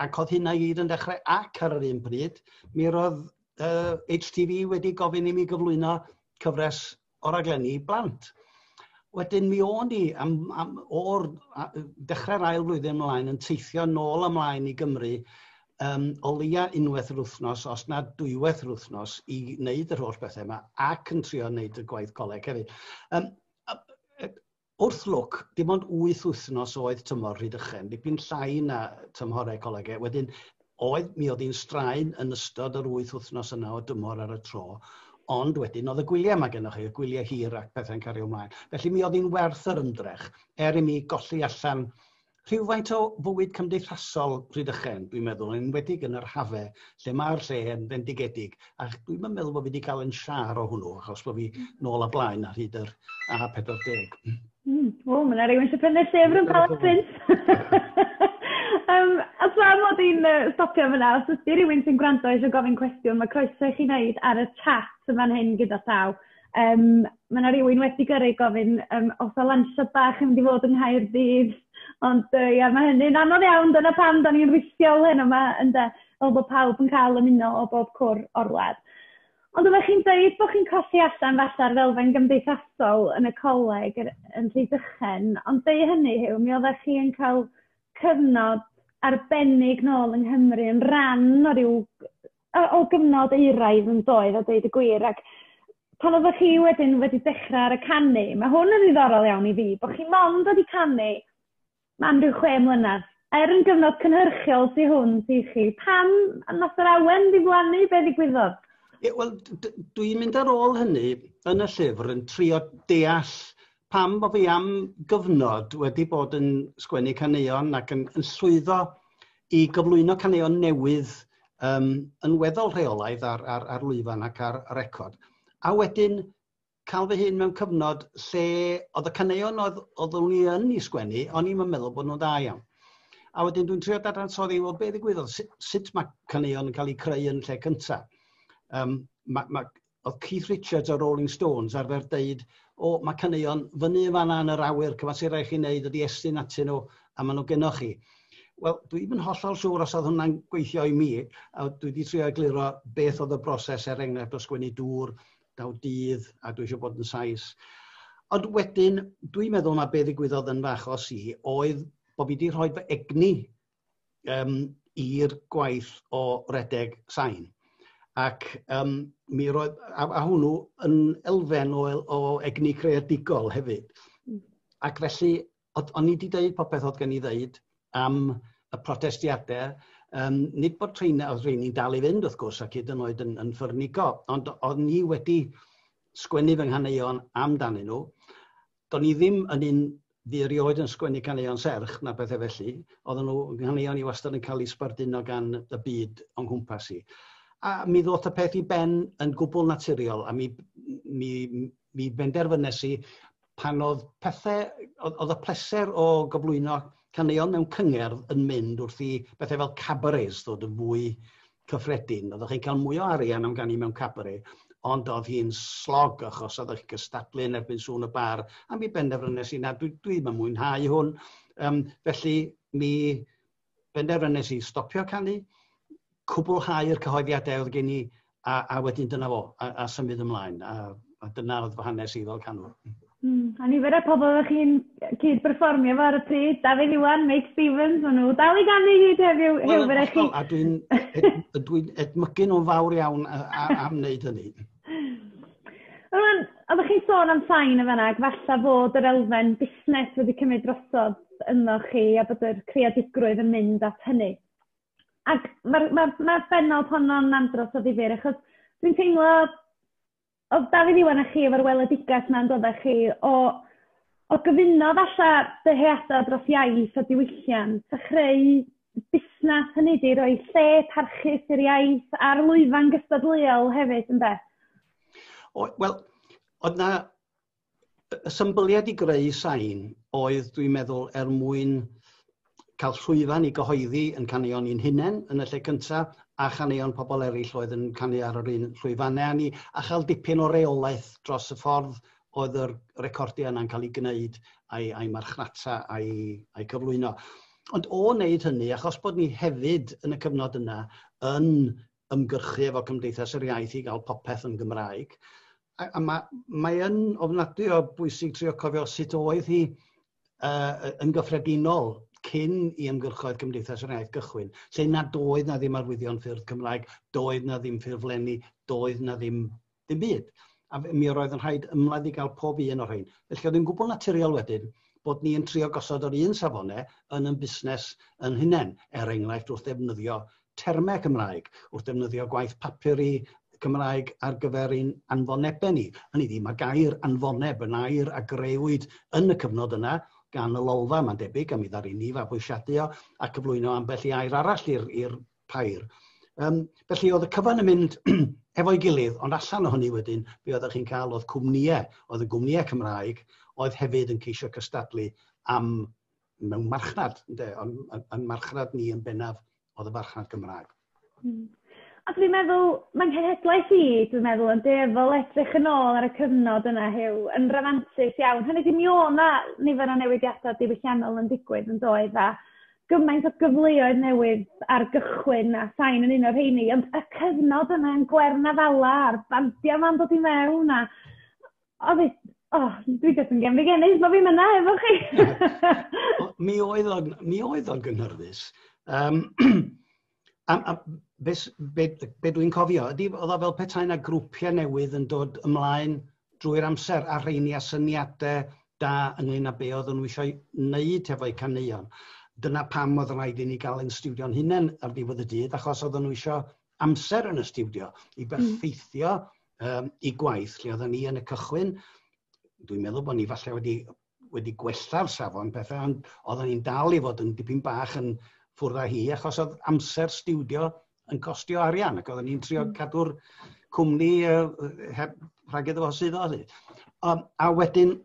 ac oedd hynna i gyd yn dechrau ac ar yr un bryd, mi roedd uh, HTV wedi gofyn i mi gyflwyno cyfres o raglenni blant. Wedyn mi o'n i am, am, o'r dechrau'r ail flwyddyn ymlaen yn teithio nôl ymlaen i Gymru um, o leia unwaith yr wythnos, os na dwywaith yr wythnos, i wneud yr holl bethau yma ac yn trio wneud y gwaith coleg hefyd. Um, Wrth lwc, dim ond wyth wythnos oedd tymor Rhydychen, dipyn llai na tymhorau colegau. Wedyn, oedd, mi oedd hi'n straen yn ystod yr wyth wythnos yna o dymor ar y tro, ond wedyn oedd y gwyliau mae gennych chi, y gwyliau hir ac pethau'n cario ymlaen. Felly mi oedd hi'n werth yr ymdrech, er i mi golli allan rhywfaint o fywyd cymdeithasol Rhydychen, dwi'n meddwl, yn enwedig yn yr hafe, lle mae'r lle yn fendigedig, a dwi'n yn meddwl bod fi wedi cael yn siar o hwnnw, achos bod fi nôl a blaen ar hyd yr A40. Mm. O, mae yna rhywun eisiau prynu llyfr yn Palace Print. um, a tra mod i'n uh, stopio fyna, os ydych rhywun sy'n gwrando eisiau gofyn cwestiwn, mae croeso i chi wneud ar y chat yma'n hyn gyda llaw. Yym, ma' 'na rywun wedi gyrru gofyn yym os o lansiad bach yn mynd i fod yng Nghaerdydd, ond yy ia ma' hynny'n anodd iawn, dyna pam 'dan ni'n rithio'l heno 'ma ynde, fel bo' pawb yn ca'l ymuno o bob cwr o'r wlad. Ond oddach chi'n deud bo' chi'n colli allan falla ar ddelfen gymdeithasol yn y coleg yr- yn Rhydychen, ond deud hynny Huw mi oddach chi yn ca'l cyfnod arbennig nôl yng Nghymru yn ran o ryw o o gyfnod euraidd yn doedd a deud y gwir ac pan oddech chi wedyn wedi dechra ar y canu ma' hwn yn ddiddorol iawn i fi bo' chi mond wedi canu am ryw chwe mlynadd. Er yn gyfnod cynhyrchiol sy hwn ti chi. Pam nath yr awen ddiflannu be' ddigwyddodd? Ie wel d- d- dwi'n mynd ar ôl hynny yn y llyfr yn trio deall pam bo' fi am gyfnod wedi bod yn sgwennu caneuon ac yn yn llwyddo i gyflwyno caneuon newydd um, yn weddol rheolaidd ar, ar, ar lwyfan ac ar record. A wedyn cael fy hun mewn cyfnod lle oedd y caneuon oedd, oedd o'n i yn i sgwennu, o'n i'n meddwl bod nhw'n da iawn. A wedyn dwi'n trio dadansoddi, wel, be ddigwyddodd, sut, sut mae caneuon yn cael eu creu yn lle cyntaf. Um, mae, mae, oedd Keith Richards o Rolling Stones arfer deud, o, mae caneuon fyny yn fanna yn yr awyr, cyfasir rai chi'n neud ydi estyn atyn nhw, a maen nhw gennoch chi. Wel, dwi ddim yn hollol siŵr os oedd hwnna'n gweithio i mi, a dwi wedi trio egluro beth oedd y broses er enghraifft o sgwennu dŵr, daw dydd, a dwi eisiau bod yn sais. Ond wedyn, dwi'n meddwl mae be ddigwyddodd yn fy achos i oedd bod fi wedi rhoi fy egni um, i'r gwaith o redeg sain. Ac um, mi roedd, a, a hwnnw yn elfen o, o egni creadigol hefyd. Hmm. Ac felly, o'n i wedi dweud popeth oedd gen i ddeud am y protestiadau, um, nid bod rhain, oedd rhain i'n dal i fynd wrth gwrs ac hyd yn oed yn, yn ffyrnigo, ond o'n i wedi sgwennu fy nghaneuon amdanyn nhw, do'n i ddim yn un fi erioed yn sgwennu caneuon serch na bethau felly, oedden nhw yn caneuon i wastad yn cael eu sbarduno gan y byd o'n nghwmpas i. A mi ddoth y peth i ben yn gwbl naturiol a mi, mi, mi benderfynes i pan oedd pethau, oedd y pleser o gyflwyno caneuon mewn cyngerdd yn mynd wrth i bethau fel cabarets ddod yn fwy cyffredin. Oeddech chi'n cael mwy o arian am ganu mewn cabaret, ond oedd hi'n slog achos oeddech chi'n cystadlu yn erbyn sŵn y bar, a mi benderfynes i na, dwi, dwi ddim yn mwynhau hwn. Um, felly mi benderfynes i stopio canu, cwblhau'r cyhoeddiadau oedd gen i, a, a wedyn dyna fo, a, a symud ymlaen. A, a dyna oedd fy hanes i fel canwr. Hmm, a nifer y pobl ydych chi'n cyd-berfformio fo ar y pryd, Dafydd Iwan, Meic Stevens, maen nhw dal i ganu hyd heddiw, well, Huw, fydde chi... A dwi'n ed, dwi edmygu nhw'n fawr iawn am wneud hynny. Rwan, oeddech chi'n sôn am sain y fanna, falle bod yr elfen busnes wedi cymryd drosodd yno chi a bod yr creadigrwydd yn mynd at hynny. Ac mae'r ma, ma, ma benod honno'n andros o ddifur, achos dwi'n teimlo Oedd Dafydd Iwan a chi efo'r weledigaeth 'na yn doddech chi o o gyfuno falle dyheada dros iaith a diwylliant a chreu busnes, hynny ydi roi lle parchus i'r iaith a'r lwyfan gystadleuol hefyd ynde? O wel o'dd 'na y symbyliad i greu sain oedd, dwi'n meddwl, er mwyn cael llwyfan i gyhoeddi yn caneuon i'n hunain yn y lle cyntaf, a chaneuon pobl eraill oedd yn canu ar yr un llwyfannau â ni, a chael dipyn o reolaeth dros y ffordd oedd yr recordiau yna'n cael ei gwneud a'i, ai marchnata a'i, ai cyflwyno. Ond o wneud hynny, achos bod ni hefyd yn y cyfnod yna yn ymgyrchu efo Cymdeithas yr Iaith i gael popeth yn Gymraeg. A, a mae, mae yn ofnadwy o bwysig trio cofio sut oedd hi uh, yn gyffredinol cyn i ymgyrchoedd Cymdeithas yr Iaith gychwyn, lle nad oedd na ddim arwyddion ffyrdd Cymraeg, doedd na ddim ffurflenni, doedd na ddim Dim byd. A mi roedd yn rhaid ymladd i gael pob un o'r rhain. Felly oedd yn gwbl naturiol wedyn bod ni yn trio gosod yr un safone yn yn busnes yn hunain, er enghraifft wrth ddefnyddio termau Cymraeg, wrth ddefnyddio gwaith papur i Cymraeg ar gyfer ein anfonebau ni. Hynny ydi, mae gair anfoneb yn air a greuwyd yn y cyfnod yna gan y Lolfa, mae'n debyg, a mi ddaru ni fabwysiadu o a cyflwyno ambell i air arall i'r pair. Um, felly oedd y cyfan yn mynd hefo'i gilydd, ond allan o hynny wedyn, be oeddech chi'n cael oedd cwmnïau, oedd y gwmnïau Cymraeg, oedd hefyd yn ceisio cystadlu am mewn marchnad, ynddo, ond yn, yn marchnad ni yn bennaf oedd y marchnad Gymraeg. Hmm. A dwi'n meddwl, mae'n cenhedlaeth i, dwi'n meddwl, yn deddol edrych yn ôl ar y cyfnod yna hew, yn rafantus iawn. Hynny di, mi o na nifer o newidiadau diwylliannol yn digwydd yn doedd, a gymaint o gyfleoedd newydd ar gychwyn a sain yn un o'r rheini ond y cyfnod yna yn Gwern Afala a'r bandia 'ma'n dod i mewn a oedd e o dwi jyst yn gefndigennydd bo' fi'n yna efo chi. mi oedd o'n mi oedd o'n gynhyrfus. Yym Am, am, be, be, be dwi'n cofio, ydy, oedd o fel petai yna grwpiau newydd yn dod ymlaen drwy'r amser a rheini a syniadau da ynglyn â be oedd nhw eisiau wneud hefo'u caneuon. Dyna pam oedd rhaid i ni gael ein stiwdio'n hunain ar ddiwedd y dydd, achos oedd nhw eisiau amser yn y stiwdio i hmm. berffeithio um, i gwaith lle oedden ni yn y cychwyn. Dwi'n meddwl bod ni falle wedi wedi gwella'r safon pethau, ond oedden ni'n dal i fod yn dipyn bach yn ffwrdd â hi, achos oedd amser stiwdio yn costio arian, ac oedden ni'n trio hmm. cadw'r cwmni uh, heb rhag iddo fo sydd oedd. Um, a wedyn,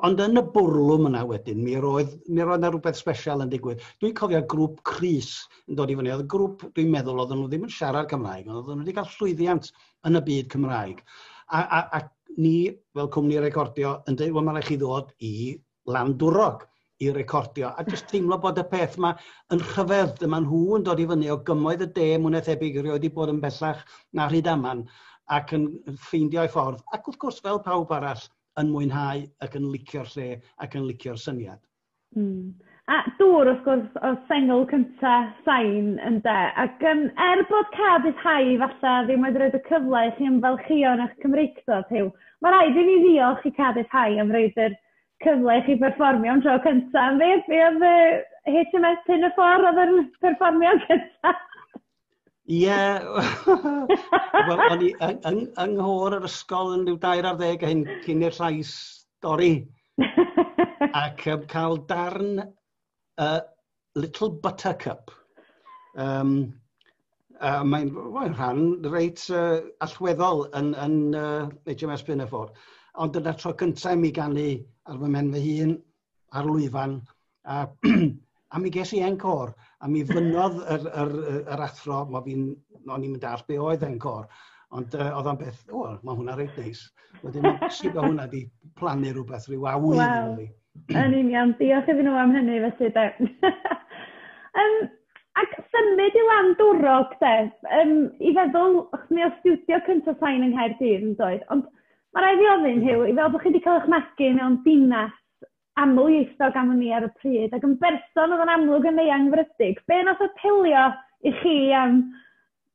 ond yn y bwrlwm yna wedyn, mi roedd, mi roedd yna rhywbeth special yn digwydd. Dwi'n cofio grŵp Cris yn dod i fyny. Oedd y grŵp, dwi'n meddwl, oedden nhw ddim yn siarad Cymraeg, ond oedden nhw wedi cael llwyddiant yn y byd Cymraeg. A, a, a ni fel cwmni recordio yn dweud, wel mae rhaid chi ddod i Landwrog i recordio, a jyst teimlo bod y peth yma yn rhyfedd, dyma nhw yn dod i fyny o gymoedd y de, mwyn ethebyg i rioed i bod yn bellach na rhyd aman, ac yn ffeindio ei ffordd, ac wrth gwrs fel pawb arall, yn mwynhau ac yn licio'r lle ac yn licio'r syniad. Hmm. A dŵr wrth gwrs o'dd sengl cynta Sain ynde? Ac yym er bod Cân Hau falle ddim wedi roid y cyfle i chi ymfalchïo yn 'ych Cymreictod Huw, ma' raid i ni ddiolch i Cân Hau am roid yr cyfle i chi berfformio am dro cynta', am beth? Be' odd yy HMS Pinafore odd yr perfformiad cynta? Ie, wel, o'n i yng, yng, yng nghôr yr ysgol yn rhyw dair ar ddeg hyn cyn i'r llais dorri. Ac um, cael darn uh, Little Buttercup. Um, uh, mae'n well, rhan reit uh, allweddol yn, yn uh, HMS Pinafore. Ond dyna tro cyntaf mi ganu ar fy mhen fy hun ar lwyfan a a mi ges i encôr a mi fynnodd yr yr yy yr athro mo fi'n o'n i'm yn dall be' oedd encôr ond yy o'dd o'n beth o ma' hwnna reit neis wedyn sud ma' hwnna 'di plannu rwbeth ryw awydd yno fi. Yn union diolch iddyn nhw am hynny felly de. Yym ac symud i lan Dwrog de yym i feddwl ch'mod studio cynta Sain yng Nghaerdydd yndoedd ond Mae rhaid fi ofyn, Huw, fel bod chi wedi cael eich magu mewn dinas aml ieithog am wn i ar y pryd, ac yn berson oedd yn amlwg yn eangfrydig, be nath apelio i chi am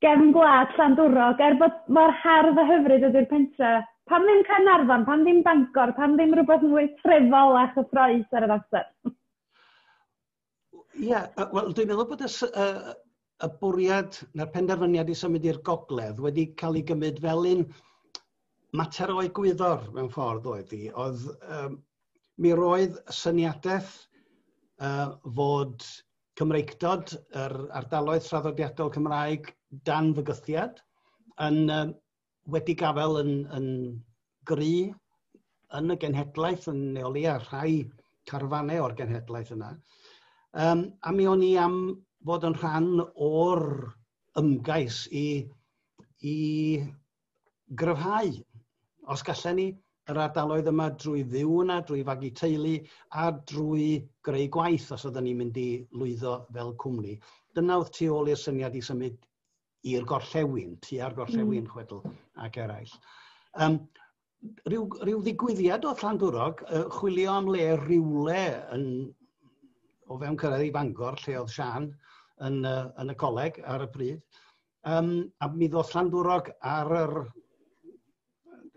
gefn gwlad Llandwrog, er bod mor hardd a hyfryd ydy'r pentre? Pam ddim Caernarfon, pam ddim Bangor, pam ddim rhywbeth mwy trefol a chyffroes ar yr amser? Ie yy wel dwi'n meddwl bod y sy- yy yy y bwriad na'r penderfyniad i symud i'r gogledd wedi ca'l 'i gymyd fel un mater o egwyddor mewn ffordd oedd 'i odd yym mi roedd y syniadeth yy fod Cymreictod yr ardaloedd traddodiadol Cymraeg dan fygythiad yn yym wedi gafael yn, yn gry yn y genhedlaeth yn neoli a rhai carfanau o'r genhedlaeth yna. Um, a mi o'n i am fod yn rhan o'r ymgais i, i gryfhau. Os gallen ni, yr ardaloedd yma drwy fyw yna, drwy fagu teulu a drwy greu gwaith os oedden ni'n mynd i lwyddo fel cwmni. Dyna oedd tu ôl i'r syniad i symud i'r gorllewin, tua'r gorllewin mm. chwedl ac eraill. Um, rhyw, rhyw ddigwyddiad o Llandwrog, uh, chwilio am le rhywle yn, o fewn cyrraedd i Fangor, lle oedd Sian yn, uh, yn y coleg ar y pryd. Um, a mi ddoth Llandwrog ar yr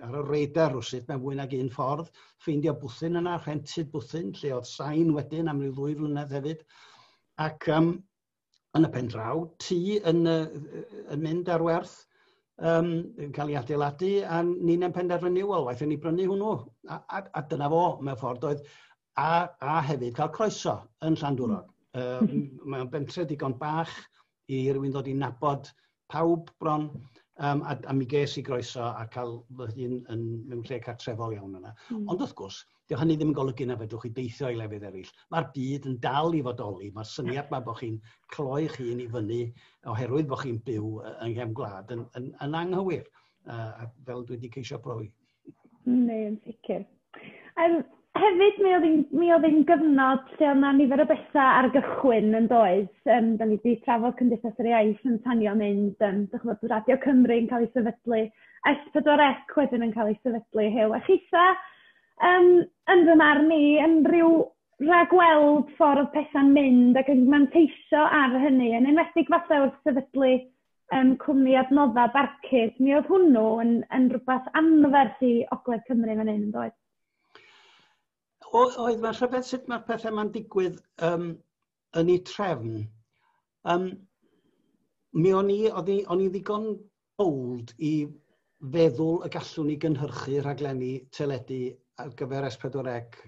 ar y reidar rwsyd mewn fwy nag un ffordd, ffeindio bwthyn yna, rhentyd bwthyn, lle oedd sain wedyn am ryw ddwy flynedd hefyd. Ac um, yn y pen draw, tu yn, yn mynd ar werth, um, yn cael ei adeiladu, a ni'n yn penderfynu, wel, waith ni brynu hwnnw. A, a, a dyna fo, mewn ffordd, oedd, a, a hefyd cael croeso yn Llandwrog. Um, hmm. Mae'n bentre digon bach i rywun ddod i nabod pawb bron, um, a, a mi ges i groeso a cael fy hun yn mewn lle cartrefol iawn yna. Mm. Ond wrth gwrs, Dio hynny ddim yn golygu na fedrwch chi deithio i lefydd eraill. Mae'r byd yn dal i fodoli. Mae'r syniad mae bod chi'n cloi'ch hun i fyny oherwydd bod chi'n byw yng nghefn gwlad yn, yn, yn anghywir, uh, fel dwi wedi ceisio brofi. Neu yn sicr. Um, hefyd, mi oedd, mi oedd ein gyfnod lle oedd na nifer o bethau ar gychwyn yn does. Um, da ni wedi trafod Cymdeithas yr Iaith yn tanio mynd, um, dych chi'n Radio Cymru yn cael ei sefydlu, S4C wedyn yn cael ei sefydlu, hew. A chitha, um, yn fy marn i, yn rhyw ragweld ffordd pethau'n mynd ac yn manteisio ar hynny, yn enwedig falle wrth sefydlu yym cwmni adnodda barcud. Mi oedd hwnnw yn yn rhywbeth anferth i Ogledd Cymru fan hyn yndoedd? O, oedd mae'n rhyfedd sut mae'r pethau mae'n digwydd um, yn ei trefn. Um, mi o'n i, o'n i, o'n i ddigon bold i feddwl y gallwn ni gynhyrchu rhaglenni teledu ar gyfer S4C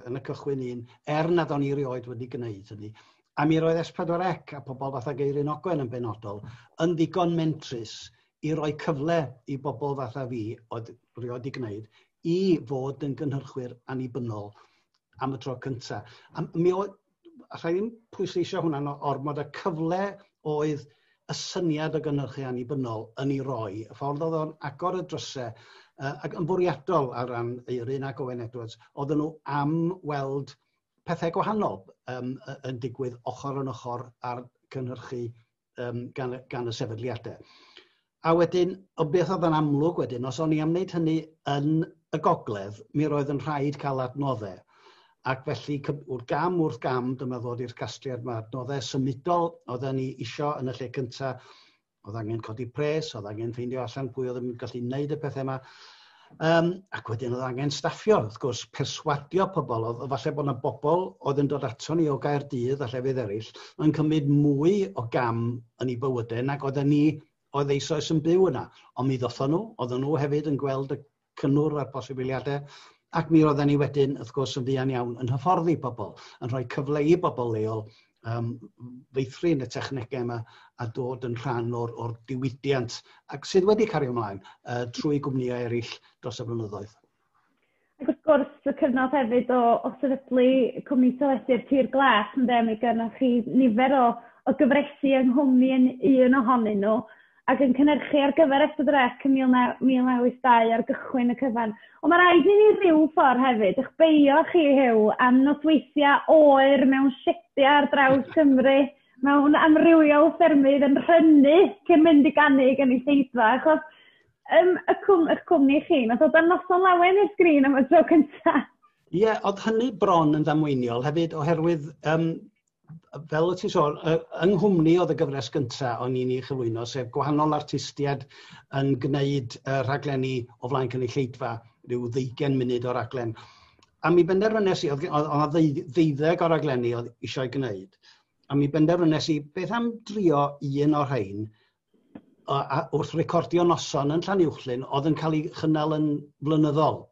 yn y cychwyn un, er nad o'n i erioed wedi gwneud hynny. A mi roedd S4C a pobl fatha Geirin Ogwen yn benodol yn ddigon mentrus i roi cyfle i bobl fatha fi, oedd rioed wedi gwneud, i fod yn gynhyrchwyr annibynnol am y tro cyntaf. A mi oedd, alla i ddim pwysleisio hwnna'n ormod y cyfle oedd y syniad o gynhyrchu annibynnol yn ei roi, y ffordd oedd o'n agor y drysau, uh, ac yn fwriadol ar ran Eirin ac Owen Edwards, oedden nhw am weld pethau gwahanol um, yn digwydd ochr yn ochr ar gynhyrchu um, gan, gan y sefydliadau. A wedyn, o beth oedd yn amlwg wedyn, os o'n i am wneud hynny yn y gogledd, mi roedd yn rhaid cael adnoddau. Ac felly, wrth gam wrth gam, dyma ddod i'r casgliad mae adnoddau symudol oedd ni isio yn y lle cyntaf. Oedd angen codi pres, oedd angen ffeindio allan pwy oedd yn gallu wneud y pethau yma. Um, ac wedyn oedd angen staffio, wrth gwrs, perswadio pobl. Oedd, falle bod yna bobl oedd yn dod ato ni o Gaerdydd a llefydd eraill yn cymryd mwy o gam yn ei bywydau nag oedden ni oedd eisoes yn byw yna. Ond mi ddothon nhw, oedden nhw hefyd yn gweld y cynnwr a'r posibiliadau, ac mi oedden ni wedyn, wrth gwrs, yn fuan iawn yn hyfforddi pobl, yn rhoi cyfle i bobl leol um, feithrin y technegau yma a dod yn rhan o'r, or diwydiant ac sydd wedi cario ymlaen uh, trwy gwmnïau eraill dros y blynyddoedd. Ac wrth gwrs, y cyfnod hefyd o, o sefydlu cwmni teledu'r Tir Glas, yn dde, mi gynnwch chi nifer o, o gyfresu yng nghwmni yn un ohonyn nhw. ac yn cynhyrchu ar gyfer Ystad yr Ec yn 1982 ar gychwyn y cyfan. Ond mae rhaid i ni ryw ffordd hefyd eich beio chi, Huw, am nosweithiau oer mewn siediau ar draws Cymru, mewn amrywiol ffermydd yn rhynnu cyn mynd i gannu gan ei seidfa, achos um, y cwm, eich cwmni chi, nath o dan noson lawen i'r sgrin am y tro cyntaf. Ie, yeah, oedd hynny bron yn ddamweiniol hefyd, oherwydd um, fel y ti'n sôn, yng nghwmni oedd y gyfres gyntaf o'n i'n ei chyflwyno, sef gwahanol artistiaid yn gwneud uh, rhaglenni o flaen cynulleidfa, rhyw ddeugen munud o raglen. A mi benderfynes i, oedd yna ddeuddeg o raglenni oedd eisiau gwneud, a mi benderfynes i beth am drio un o'r rhain o, a, wrth recordio noson yn Llanuwchllyn oedd yn cael ei chynnal yn flynyddol.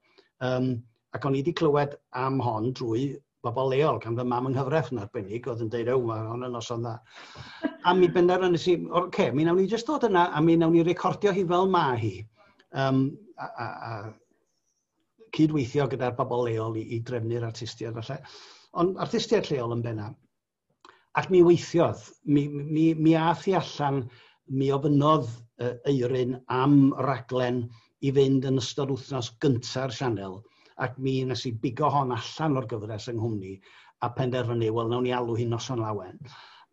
Um, ac o'n i wedi clywed am hon drwy bobl leol, gan fy mam yng nghyfraith yn arbennig, oedd yn deud, ew, mae hon yn noson dda. a mi bender yn ysyn, o'r ce, mi nawn ni jyst dod yna, a mi nawn ni recordio hi fel mae hi. Um, a, a, a cydweithio gyda'r bobl leol i, i drefnu'r artistiaid falle. Ond artistiaid lleol yn benna. Ac mi weithiodd. Mi, mi, mi ath i allan, mi ofynnodd uh, Eirin am raglen i fynd yn ystod wythnos gynta'r sianel, ac mi nes i bigo hon allan o'r gyfres yng nghwmni, a penderfynu, wel, nawn ni alw hi'n noson lawen.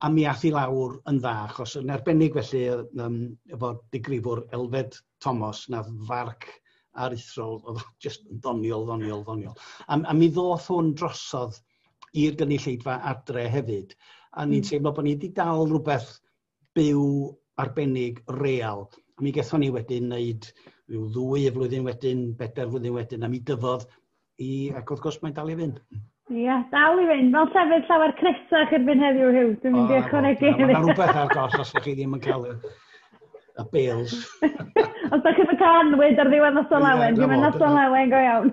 A mi ath i lawr yn dda, achos yn arbennig felly um, efo digrifwr Elfed Thomas, na farc aruthrol, oedd jyst yn ddoniol, ddoniol, ddoniol. A, a mi ddoth hwn drosodd i'r gynulleidfa adre hefyd. A ni'n hmm. teimlo bod ni wedi dal rhywbeth byw arbennig real. A mi gethon ni wedyn wneud rhyw ddwy y flwyddyn wedyn, bedair flwyddyn wedyn, a mi dyfodd i, ac wrth gwrs mae'n dal i fynd. Ie, yeah, dal i fynd. Mae'n llefydd llawer cresach i'r fynd heddiw, Hugh. Dwi'n mynd i ychwanegu. Mae yna rhywbeth ar gos os ydych chi ddim yn cael y bales. os ydych chi'n cael anwyd ar ddiwedd nos o lawen, dwi'n mynd nos o lawen go iawn.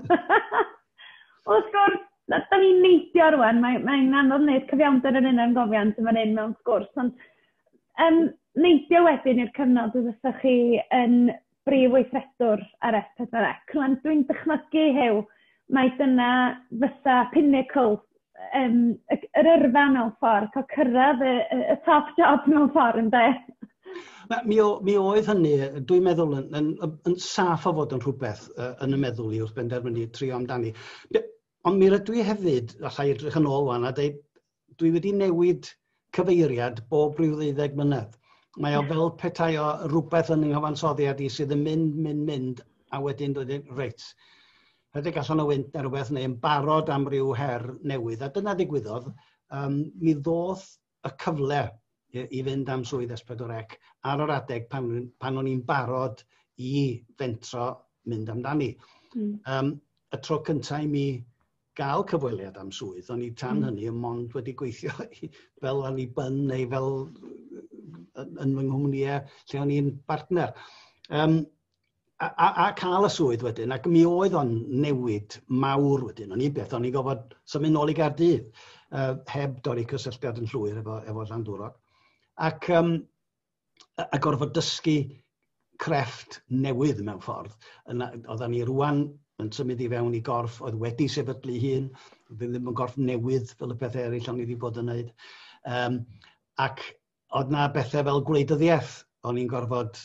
Wrth gwrs, Na, da ni'n neidio rŵan, mae'n mae anodd wneud cyfiawnder yn un ymgofiant yn fan hyn mewn sgwrs, ond yym neidio wedyn i'r cyfnod y fyddech chi yn brif weithredwr ar S4C. Rŵan dwi'n dychmygu, Huw, mai dyna fysa pinnacle yym yr yrfa mewn ffordd, cael cyrraedd y y y top job mewn ffordd ynde? Na, mi, o, mi oedd hynny, dwi'n meddwl, yn, yn, yn, yn saff o fod yn rhywbeth uh, yn y meddwl i wrth benderfynu trio amdani. Be, ond mi rydw i hefyd, allai edrych yn ôl fan, a dweud, dwi wedi newid cyfeiriad bob rhyw ddeuddeg mlynedd. Mae o fel petai o rhywbeth yn nghyfansoddiad i sydd yn mynd, mynd, mynd, a wedyn dweud, reit, rhedeg allan o wynt neu rhywbeth, neu yn barod am ryw her newydd. A dyna ddigwyddodd, um, mi ddoth y cyfle i fynd am swydd S4C ar yr adeg pan o'n i'n barod i fentro mynd amdani. Y tro cyntaf i mi gael cyfweliad am swydd, o'n i tan hmm. hynny yn mond wedi gweithio fel o'n i byn neu fel yn fy nghwmnïau lle o'n i'n bartner. Um, a, a, a cael y swydd wedyn, ac mi oedd o'n newid mawr wedyn. O'n i beth, o'n i'n gofod symud nôl i Gardydd, uh, heb dorri cysylltiad yn llwyr efo, efo Llandwrog. Ac, um, a gorfod dysgu crefft newydd mewn ffordd. Oedden ni rwan yn symud i fewn i gorff oedd wedi sefydlu hun, ddim yn gorff newydd fel y pethau eraill o'n i wedi bod yn wneud. Um, ac oedd na bethau fel gwleidyddiaeth o'n i'n gorfod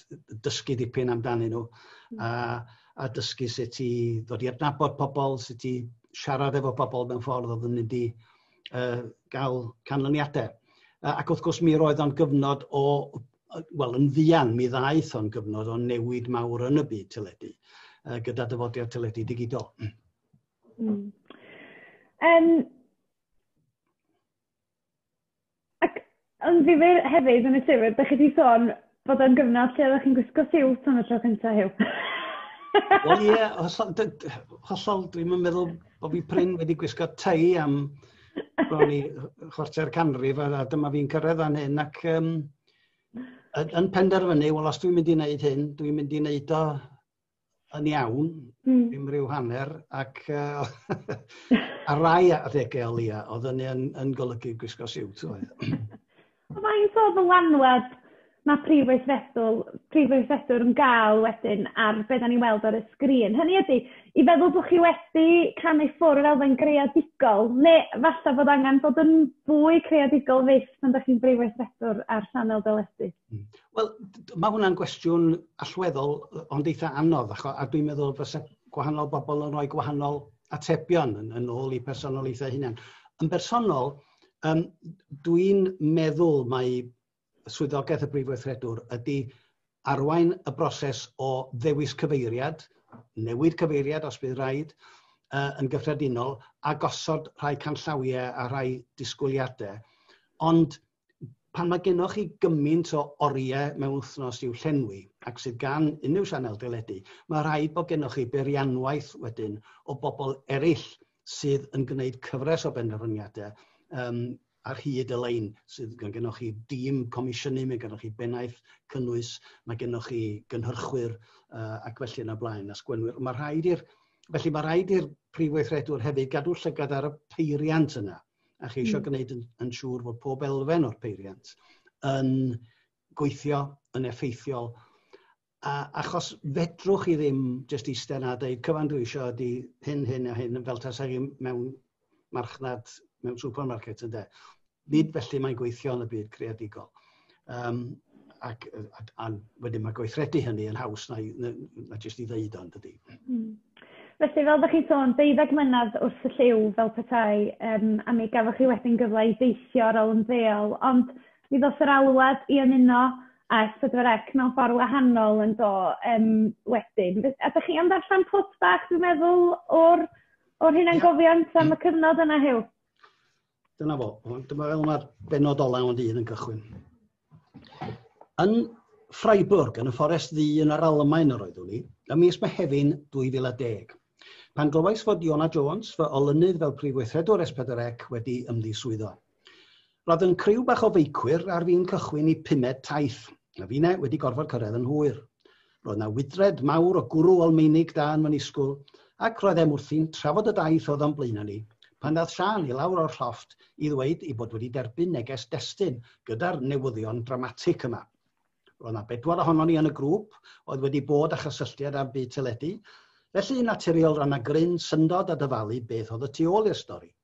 dysgu dipyn amdanyn nhw a, a dysgu sut i ddod i adnabod pobl, sut i siarad efo pobl mewn ffordd oedd yn mynd i uh, gael canlyniadau. Uh, ac wrth gwrs mi roedd o'n gyfnod o, wel yn fuan mi ddaeth o'n gyfnod o newid mawr yn y byd teledu uh, gyda dyfodiad teledu digidol. Mm. Um, Ac yn ddifyr hefyd yn y llyfr, dach chi 'di sôn bod o'n gyfnod lle oeddech chi'n gwisgo siwt am y tro cynta, Huw. Wel ie, hollol, d- d- hollol dwi'm yn meddwl bod fi prin wedi gwisgo tei am bron i chwarter canrif a, a dyma fi'n cyrraedd fan hyn ac um, yn penderfynu, wel os dwi'n mynd i wneud hyn, dwi'n mynd i wneud o yn iawn, mm. dim rhyw hanner, ac uh, ar rai adegau o leia, oedd hynny yn, yn golygu gwisgo siwt oedd. Mae'n so ddylanwad mae prif weithredwr, prif weithredwr yn gael wedyn ar beth da ni'n weld ar y sgrin. Hynny ydy, i feddwl bod chi wedi canu ffwrdd fel elfen greadigol, neu falle bod angen bod yn fwy creadigol fyth pan da chi'n brif weithredwr ar Sanel Deledu? Hmm. Wel, mae hwnna'n gwestiwn allweddol ond eitha anodd, acho, a dwi'n meddwl fysa gwahanol bobl yn rhoi gwahanol atebion yn, yn ôl i personoliaethau hunain. Yn bersonol, um, dwi'n meddwl mae swyddogaeth y Brif Weithredwr ydy arwain y broses o ddewis cyfeiriad, newid cyfeiriad os bydd rhaid, uh, yn gyffredinol, a gosod rhai canllawiau a rhai disgwyliadau. Ond pan mae gennych chi gymaint o oriau mewn wythnos i'w llenwi ac sydd gan unrhyw sianel deledu, mae rhaid bod gennych chi beirianwaith wedyn o bobl eraill sydd yn gwneud cyfres o benderfyniadau um, ar hyd y lein sydd gan gennych chi dîm comisiynu, mae gennych chi bennaeth cynnwys, mae gennych chi gynhyrchwyr uh, ac felly yna blaen, a sgwenwyr. Mae rhaid i'r, felly mae rhaid i'r prif weithredwr hefyd gadw llygad ar y peiriant yna. a chi eisiau gwneud yn, yn siŵr fod pob elfen o'r peiriant yn gweithio yn effeithiol. A, achos fedrwch chi ddim jyst eistedd na dweud cyfan dwi eisiau ydy hyn, hyn a hyn, fel tas chi mewn marchnad, mewn supermarket ynde. Nid felly mae'n gweithio yn y byd creadigol. Um, ac, a, a wedyn mae gweithredu hynny yn haws na, na, na jyst i ddeud o'n dydy. Mm. Felly, fel ydych chi'n sôn, deuddeg mynydd wrth y lliw fel petai, um, a mi gafoch chi wedyn gyfle i deithio ar ôl yn ddeol, ond mi ddos yr alwad i ymuno a S4C mewn ffordd wahanol yn do um, wedyn. A ydych chi am ddarllen pwt bach, dwi'n meddwl, o'r, or hunangofiant am y cyfnod yna, Hew? Dyna fo. Dyma fel mae'r benod ola o'n dydd yn cychwyn. Yn Freiburg, yn y fforest ddu yn yr Almaen yr oeddwn i, ym mis Mehefin 2010. Pan glywais fod Iona Jones, fy olynydd fel prif weithredwr S4C, wedi ymddiswyddo. Roedd yn criw bach o feicwyr ar fi'n cychwyn i pumed taith, a fine wedi gorfod cyrraedd yn hwyr. Roedd 'na wydred mawr o gwrw Almeinig da yn fy nisgwl, ac roedd e'm wrthi'n trafod y daith oedd o'n blaenau ni, pan ddaeth Siân i lawr o'r llofft i ddweud ei bod wedi derbyn neges destun gyda'r newyddion dramatic yma. Roedd 'na bedwar ohonon ni yn y grŵp oedd wedi bod â chysylltiad â'r byd teledu, felly yn naturiol roedd 'na gryn syndod a dyfalu beth oedd y tu ôl i'r stori.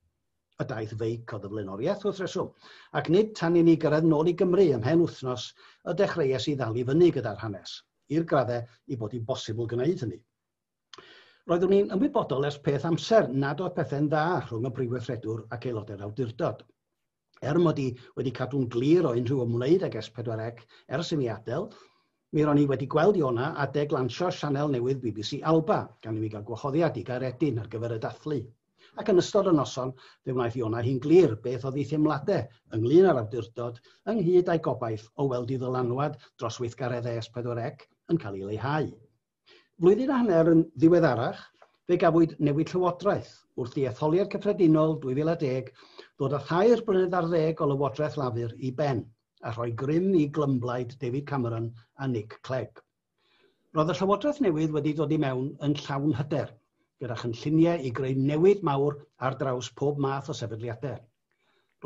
y daith feic oedd y flaenoriaeth wrth reswm, ac nid tan i ni gyrraedd nôl i Gymru ym mhen wythnos y dechreuais i ddal i fyny gyda'r hanes, i'r graddau i bod hi'n bosibl gwneud hynny. Roeddwn i'n ymwybodol ers peth amser nad oedd pethau'n dda rhwng y Brifweithredwr ac aelodau'r awdurdod. Er mod i wedi cadw'n glir o unrhyw ymwneud ag S4C ers i mi adael, mi ro'n i wedi gweld Iona adeg lansio sianel newydd bbc Alba, gan i mi gael gwahoddiad i Gaeredin ar gyfer y dathlu. Ac yn ystod y noson, fe wnaeth Iona hi'n glir beth oedd ei theimladau ynglŷn â'r awdurdod, ynghyd â'i gobaith o weld ei ddylanwad dros weithgaredd ES4C yn cael ei leihau. Flwyddyn a hanner yn ddiweddarach, fe gafwyd newid llywodraeth, wrth i etholiad cyffredinol 2010 ddod â thair blynedd ar ddeg o lywodraeth Lafur i ben, a rhoi grym i glymblaid David Cameron a Nick Clegg. Roedd y Llywodraeth newydd wedi dod i mewn yn llawn hyder, gyda chynlluniau i greu newid mawr ar draws pob math o sefydliadau.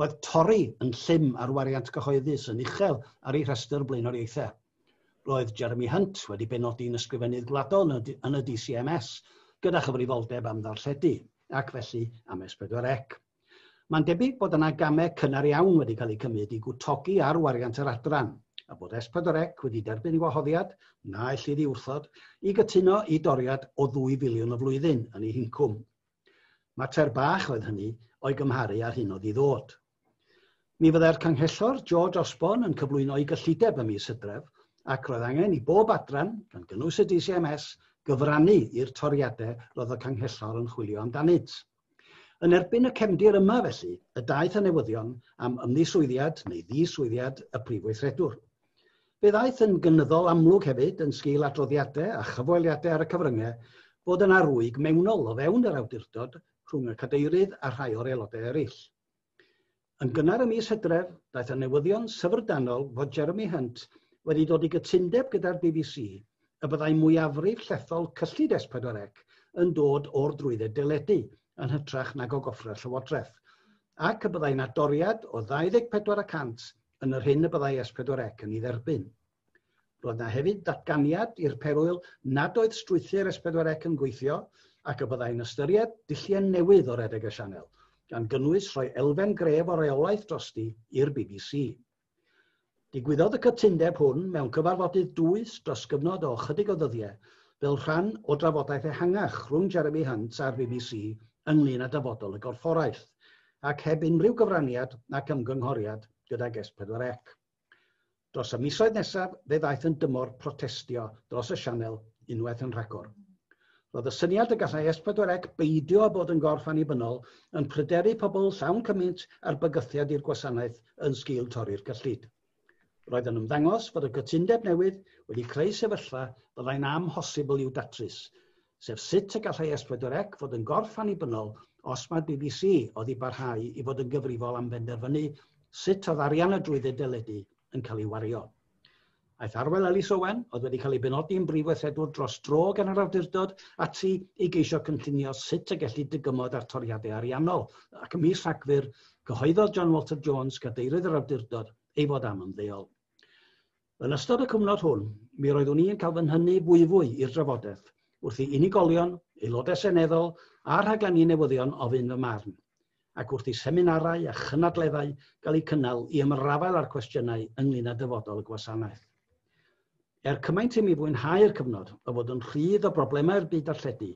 Roedd Tory yn llym ar wariant cyhoeddus yn uchel ar eu rhestr blaenoriaethau. Roedd Jeremy Hunt wedi benodi'n Ysgrifennydd Gwladol yn y DCMS gyda chyfrifoldeb am ddarlledu, ac felly am S4C. Mae'n debyg bod yna gamau cynnar iawn wedi cael eu cymryd i gwtogi ar wariant yr adran, a bod S4C wedi derbyn gwahoddiad, na ellid ei wrthod, i gytuno i doriad o ddwy filiwn y flwyddyn yn ei hincwm. Mater bach oedd hynny o'i gymharu â'r hyn oedd i ddod. Mi fyddai'r Canghellor George Osborne yn cyflwyno'i gyllideb ym mis Hydref, ac roedd angen i bob adran, gan gynnwys y DCMS, gyfrannu i'r toriadau roedd y Canghellor yn chwilio amdanynt. Yn erbyn y cefndir yma felly y daeth y newyddion am ymddiswyddiad neu ddiswyddiad y Prif Weithredwr. Fe ddaeth yn gynyddol amlwg hefyd yn sgil adroddiadau a chyfweliadau ar y cyfryngau fod yna rwyg mewnol o fewn yr awdurdod rhwng y Cadeirydd a rhai o'r Aelodau eraill. Yn gynnar ym mis Hydref, daeth y newyddion syfrdanol fod Jeremy Hunt wedi dod i gytundeb gyda'r bbc y byddai mwyafrif llethol cyllid S4C yn dod o'r drwydded deledu yn hytrach nag o goffrau'r llywodraeth, ac y byddai 'na doriad o 24 y cant yn yr hyn y byddai S4C yn ei dderbyn. Roedd na hefyd ddatganiad i'r perwyl nad oedd strwythur S4C yn gweithio ac y byddai'n ystyried dulliau newydd o redeg y sianel, gan gynnwys rhoi elfen gref o reolaeth drosti i'r bbc. Digwyddodd y cytundeb hwn mewn cyfarfodydd dwys dros gyfnod o ychydig o ddyddiau fel rhan o drafodaeth ehangach rhwng Jeremy Hunt a'r bbc ynglŷn â dyfodol y gorfforaeth, ac heb unrhyw gyfraniad nac ymgynghoriad gydag S4C. Dros y misoedd nesaf fe ddaeth yn dymor protestio dros y sianel unwaith yn rhagor. Roedd y syniad y gallai S4C beidio â bod yn gorff annibynnol yn pryderu pobl llawn cymaint a'r bygythiad i'r gwasanaeth yn sgil torri'r cyllid. Roedd yn ymddangos fod y cytundeb newydd wedi creu sefyllfa fyddai'n amhosibl i'w datrys, sef sut y gallai S4C fod yn gorff annibynnol os mae'r bbc oddi barhau i fod yn gyfrifol am benderfynu sut oedd arian y drwydded deledu yn cael ei wario. Aeth Arwel Elis Owen, oedd wedi cael ei benodi yn brif weithredwr dros dro gan yr awdurdod, ati i geisio cynllunio sut y gellid dygymod ar toriadau ariannol, ac ym mis Rhagfyr, cyhoeddodd John Walter Jones, cadeirydd yr awdurdod, ei fod am ymddeol. Yn ystod y cyfnod hwn, mi roeddwn i yn cael fy nhynnu fwyfwy i'r drafodaeth wrth i unigolion, Aelodau Seneddol a rhaglenni newyddion ofyn fy marn, ac wrth i seminarau a chynadleddau gael eu cynnal i ymrafael â'r cwestiynau ynglŷn â dyfodol y gwasanaeth. Er cymaint i mi fwynhau'r cyfnod o fod yn rhydd o broblemau'r byd darlledu,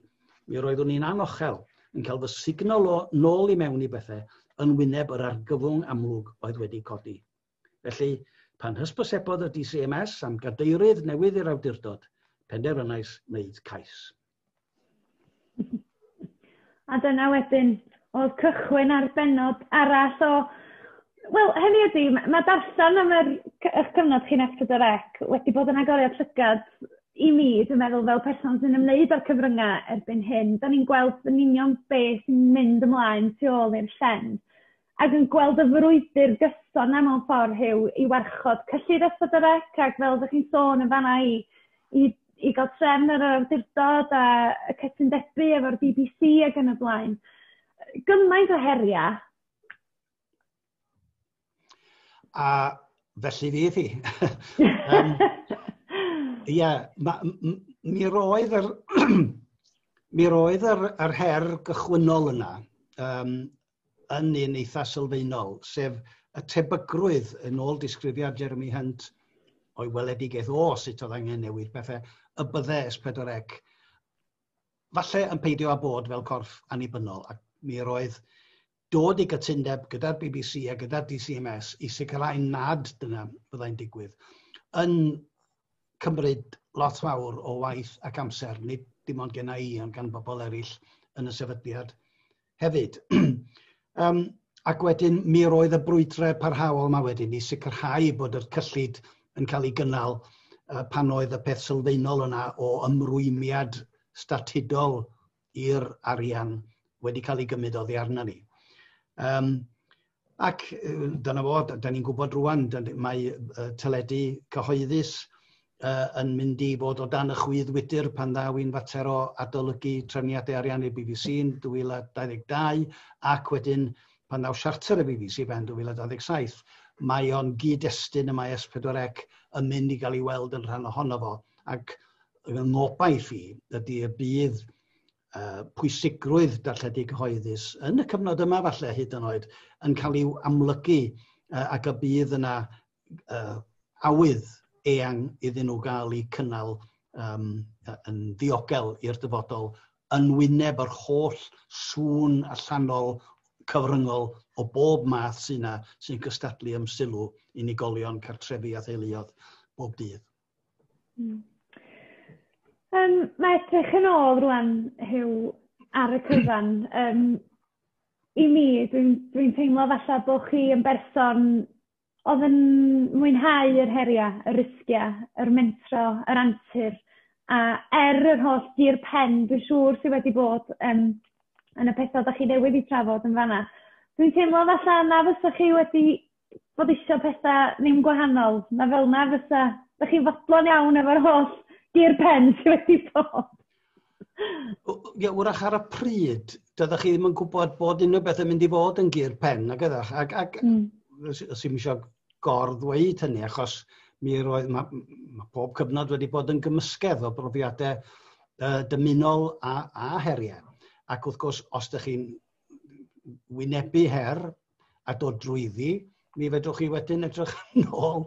mi roeddwn i'n anochel yn cael fy sugno 'nôl i mewn i bethau yn wyneb yr argyfwng amlwg oedd wedi codi. Felly, pan hysbysebodd y DCMS am gadeirydd newydd i'r awdurdod, penderfynais wneud cais. A dyna wedyn oedd cychwyn ar benod arall o Wel, hynny ydy, mae darllen am yr, eich cyfnod chi'n F4C wedi bod yn agoriad llygad i mi, dwi'n meddwl, fel person sy'n ymwneud â'r cyfryngau erbyn hyn. Da ni'n gweld yn union beth sy'n mynd ymlaen tu ôl i'r llen. ac yn gweld y frwydr gyson 'na mewn ffordd Huw i warchod cyllid Ystad y Rec ac fel oddech chi'n sôn yn fanna i i i ga'l trefn ar yr awdurdod a y cytundebau efo'r Bee Bee See ag yn y blaen. Yy gymaint o heria'. A felly fydd hi. um, ia, ma' m- m- mi roedd yr mi roedd yr yr her gychwynnol yna um, yn un eitha sylfaenol, sef y tebygrwydd yn ôl disgrifiad Jeremy Hunt o'i weledigaeth o sut oedd angen newid pethau, y bydde S4C falle yn peidio â bod fel corff annibynnol, ac mi yr oedd dod i gytundeb gyda'r BBC a gyda'r DCMS i sicrhau nad dyna fyddai'n digwydd, yn cymryd lot fawr o waith ac amser, nid dim ond genna i, ond gan bobl eraill yn y sefydliad, hefyd. um, ac wedyn mi roedd y brwydrau parhaol yma wedyn i sicrhau bod yr cyllid yn cael ei gynnal uh, pan oedd y peth sylfaenol yna o ymrwymiad statudol i'r arian wedi cael ei gymryd oddi arna ni. Um, Ac dyna fo, da ni'n gwybod rwan, mae teledu cyhoeddus yn mynd i fod o dan y chwydd wydr pan ddaw i'n fater o adolygu trefniadau ariannu'r bbc yn 2022, ac wedyn pan ddaw siarter y bbc i ben 2027. Mae o'n gyd-destun y mae S4C yn mynd i gael ei weld yn rhan ohono fo, ac fy ngobaith i ydy y bydd uh, pwysigrwydd darlledu cyhoeddus yn y cyfnod yma falle hyd yn oed yn cael ei amlygu uh, ac y bydd yna uh, awydd eang iddyn nhw gael eu cynnal um, yn ddiogel i'r dyfodol yn wyneb yr holl sŵn allanol cyfryngol o bob math sy'n yna sy'n cystadlu am sylw unigolion, cartrefi a theuluodd bob dydd. Hmm. Yym ma' edrych yn ôl rŵan Huw ar y cyfan yym i mi dwi'n dwi'n teimlo falla bo' chi yn berson odd yn mwynhau yr heria', y risgia', yr mentro, yr antur a er yr holl dir pen dwi siŵr sy wedi bod yym yn y petha' 'dach chi newydd 'u trafod yn fan 'na dwi'n teimlo falla na fysach chi wedi bod eisiau pethau ddim gwahanol, na fel na fysa. Dych chi'n fodlon iawn efo'r holl gear pen sydd wedi bod. Ie, wrach ar y pryd, dydych chi ddim yn gwybod bod unrhyw beth yn mynd i fod yn gear pen, ac ydych. Ac, ac mm. os, os i'n eisiau gor-ddweud hynny, achos mi roedd, mae ma pob cyfnod wedi bod yn gymysgedd o brofiadau uh, dymunol a, a heriau. Ac wrth gwrs, os ydych chi'n wynebu her, a dod drwyddi, mi fedrwch chi wedyn edrych yn ôl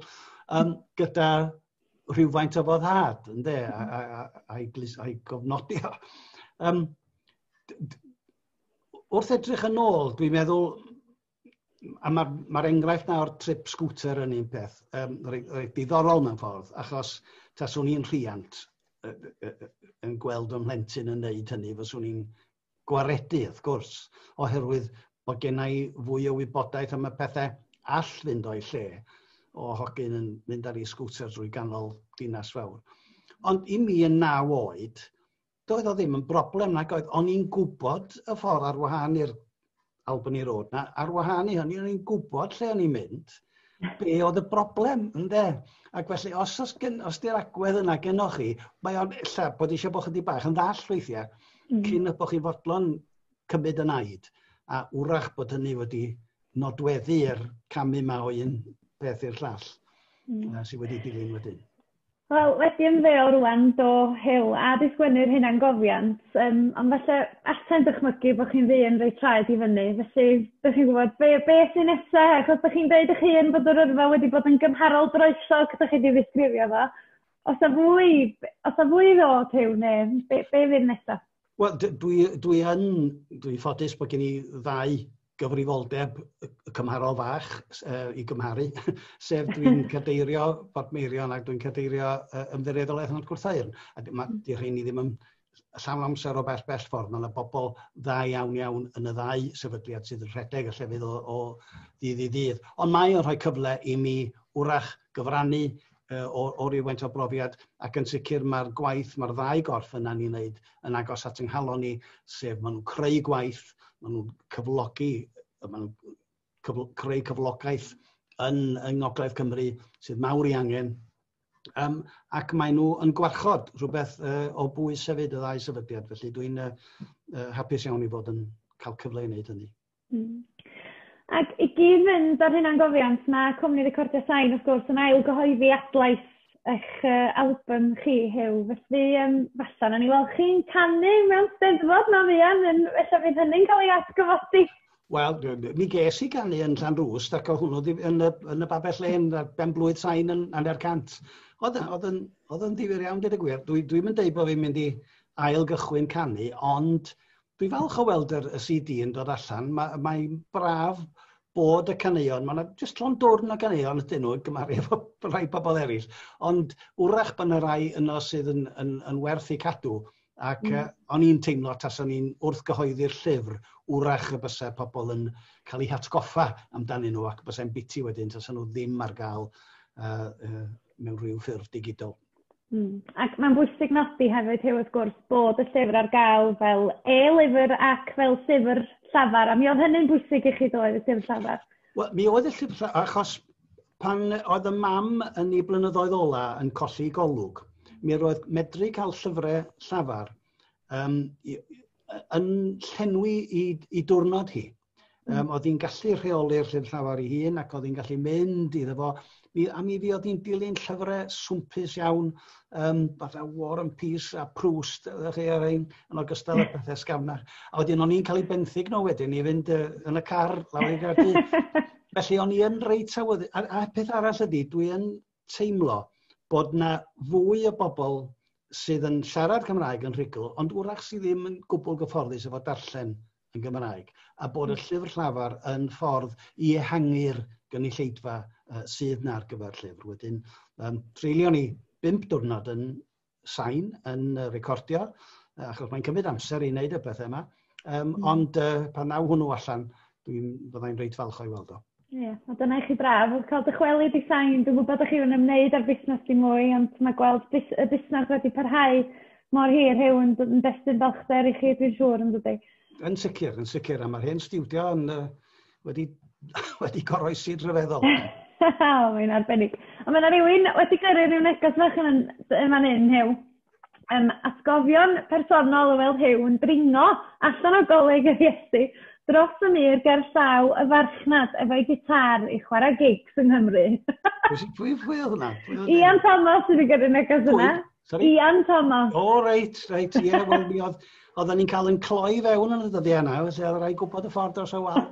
um, gyda rhywfaint o foddhad, ynddo, a'i hmm. gofnodi o. Um, wrth edrych yn ôl, dwi'n meddwl, a mae'r ma, ma enghraifft na o'r trip scooter yn un peth, um, rhaid diddorol mewn ffordd, achos taswn i'n rhiant yn gweld o'n mhlentyn yn neud hynny, fyswn i'n gwaredu, wrth gwrs, oherwydd bod genna i fwy o wybodaeth am y pethau all fynd o'i lle o hogyn yn mynd ar ei sgwter drwy ganol dinas fawr. Ond i mi yn naw oed, doedd o ddim yn broblem nag oedd, o'n i'n gwybod y ffordd ar wahân i'r Albany Road na, ar wahân i hynny, o'n i'n gwybod lle o'n i'n mynd, be oedd y broblem, ynddo. Ac felly, os, os, gen, os di'r agwedd yna gennoch chi, mae o'n illa bod eisiau bod chydig bach yn ddall weithiau, mm. cyn y bod chi'n fodlon cymryd yn aid, a wrach bod hynny wedi nodweddu i'r camu yma o un peth i'r llall mm. sydd wedi dilyn wedyn. Wel, wedi ymddeol rŵan, do, Huw, a 'di sgwennu'r hunangofiant, yym, ond falle allai'm dychmygu bod chi'n ddyn reit traed i fyny, felly dych chi'n gwybod be be sy nesa', achos dych chi'n deud 'ych hun bod yr yrfa wedi bod yn gymharol groesog, dych chi 'di ddisgrifio fo. O's 'na fwy, o's 'na fwy i ddod Huw, neu be be fydd nesa'? Wel, d- dwi dwi yn, dwi'n ffodus bod gen i ddau gyfrifoldeb y cymharol fach uh, i gymharu, sef dwi'n cadeirio Port Meirion ac dwi'n cadeirio uh, ymddiriedolaeth yn Gwrthaeirn. A mae hmm. di rhain i ddim yn llawn amser o bell bell ffordd. Mae yna bobl dda iawn iawn yn y ddau sefydliad sydd yn rhedeg y llefydd o, o ddydd i ddydd. Ond mae o'n rhoi cyfle i mi wrach gyfrannu uh, o, o ryw faint o brofiad, ac yn sicr mae'r gwaith mae'r ddau gorff yna ni'n wneud yn agos at ynghalon ni, sef maen nhw'n creu gwaith, maen nhw'n cyflogi, maen nhw'n cyfl creu cyflogaeth yn, yng Ngogledd Cymru sydd mawr i angen, um, ac maen nhw yn gwarchod rhywbeth uh, o bwys hefyd y ddau sefydliad, felly dwi'n uh, uh, hapus iawn i fod yn cael cyfle i wneud hynny. Hmm. Ac i gyd-fynd â'r hunangofiant, mae cwmni Recordia Sain wrth gwrs yn ail gyhoeddi adlais eich yy albym chi, Huw. Felly yym falla wnawn ni weld chi'n canu mewn Steddfod na fuan yn ella bydd hynny'n cael ei atgyfodi. Wel, mi ges i ganu yn Llanrwst ac o' hwnnw yn y yn y babell lên ar ben blwydd sain yn hanner cant. Oedd yn oedd yn oedd yn ddifyr iawn deud y gwir. Dwi dwi'm yn deud bo' fi'n mynd i ail gychwyn canu ond Dwi'n falch o weld yr y CD yn dod allan. Mae mae'n braf bod y caneuon, mae yna jyst llon dwrn o ganeuon ydyn nhw, gymaru efo rhai pobl eraill, ond wrach bod yna rai yno sydd yn, yn, yn werth eu cadw. Ac mm. uh, o'n i'n teimlo tas o'n i'n wrth gyhoeddi'r llyfr, wrach y bysau pobl yn cael eu hatgoffa amdanyn nhw ac bysau'n biti wedyn tas nhw ddim ar gael uh, uh, mewn rhyw ffurf digidol. Hmm. Ac mae'n bwysig nodi hefyd Huw wrth gwrs bod y llyfr ar gael fel e-lyfr ac fel llyfr llafar a mi oedd hynny'n bwysig i chi ddoedd y llyfr llafar? Wel mi oedd y llyfr llafar achos pan oedd y mam yn ei blynyddoedd ola yn colli golwg mi roedd medru cael llyfrau llafar um, yn llenwi i, i diwrnod hi. Um, oedd hi'n gallu rheoli'r llyfr llafar ei hun ac oedd hi'n gallu mynd iddo fo. Mi, a mi fi oedd hi'n dilyn llyfrau swmpus iawn, um, fatha War and Peace a Proust, ydych chi ar ein, yn ogystal â pethau sgamna. A wedyn o'n i'n cael ei benthyg nhw wedyn i fynd uh, yn y car lawr i'r gardi. Felly o'n i yn reit awydd. A, a peth arall ydy, dwi yn teimlo bod yna fwy o bobl sydd yn siarad Cymraeg yn rhugl, ond wrach sydd ddim yn gwbl gyfforddus efo darllen yn Gymraeg, a bod y hmm. llyfr llafar yn ffordd i ehangu'r gynulleidfa uh, sydd na ar gyfer llyfr. Wedyn, um, treulio ni bimp diwrnod yn sain yn recordio, achos mae'n cymryd amser i wneud y bethau yma. Um, mm. Ond uh, pan naw hwnnw allan, dwi'n byddai'n reit falch o'i weld o. Ie, yeah, a dyna i chi braf, oedd cael dychwelyd i sain, dwi'n gwybod chi yn ymwneud â'r busnes di mwy, ond mae gweld bus, y busnes wedi parhau mor hir hew yn, yn destun balchder i chi, dwi'n siŵr, yn dydy. Yn sicr, yn sicr, a mae'r hen stiwdio yn, uh, wedi, wedi goroesi rhyfeddol. oh, mae'n arbennig. Ond mae yna rhywun wedi gyrru rhyw neges fach yn, yn fan hyn, Hew. Um, atgofion personol o weld Hew yn dringo allan o goleg yr Iesu dros y mur ger llaw y farchnad efo'i gitar i chwarae gigs yng Nghymru. pwy, pwy, pwy oedd hwnna? Ian Thomas sydd wedi gyrru neges yna. Sorry? Ian Thomas. O, oh, reit, reit, ie, yeah, wel, mi oedd, oedden ni'n cael yn cloi fewn yn y dyddiau yna, felly oedd rhaid gwybod y ffordd dros y wal.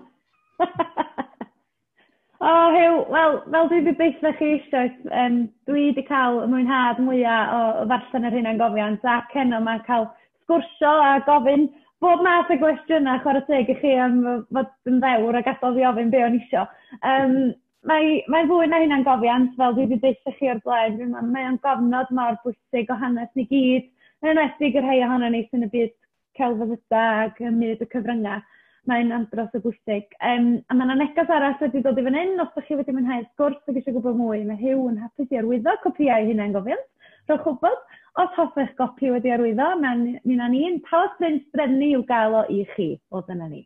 o, oh, Hugh, wel, fel dwi wedi deitha chi eisiau, um, dwi wedi cael y mwynhad mwyaf o, o ddarllen yr hyn yn gofiant, a ceno mae'n cael sgwrsio a gofyn bob math o gwestiynau chwarae teg i chi am fod yn ddewr a gadael fi ofyn be o'n isio. Um, Mae, mae'n fwy na hynna'n gofiant, fel dwi wedi deutha chi o'r blaen, dwi'n meddwl, mae o'n gofnod mor bwysig o hanes ni gyd, yn enwedig y rhai ohono ni sy'n y byd celfyddyda ac ym myd y cyfryngau. Mae'n andros o bwysig. Um, a mae yna neges arall wedi dod i fan hyn, os ydych chi wedi mwynhau'r sgwrs ac eisiau gwybod mwy, mae Hugh yn hapus i arwyddo copïau hunain gofiant. Rhowch wybod, os hoffech gopi wedi arwyddo, mae'n ni'n ni'n talos print drefnu i'w gael o i chi. O, dyna ni.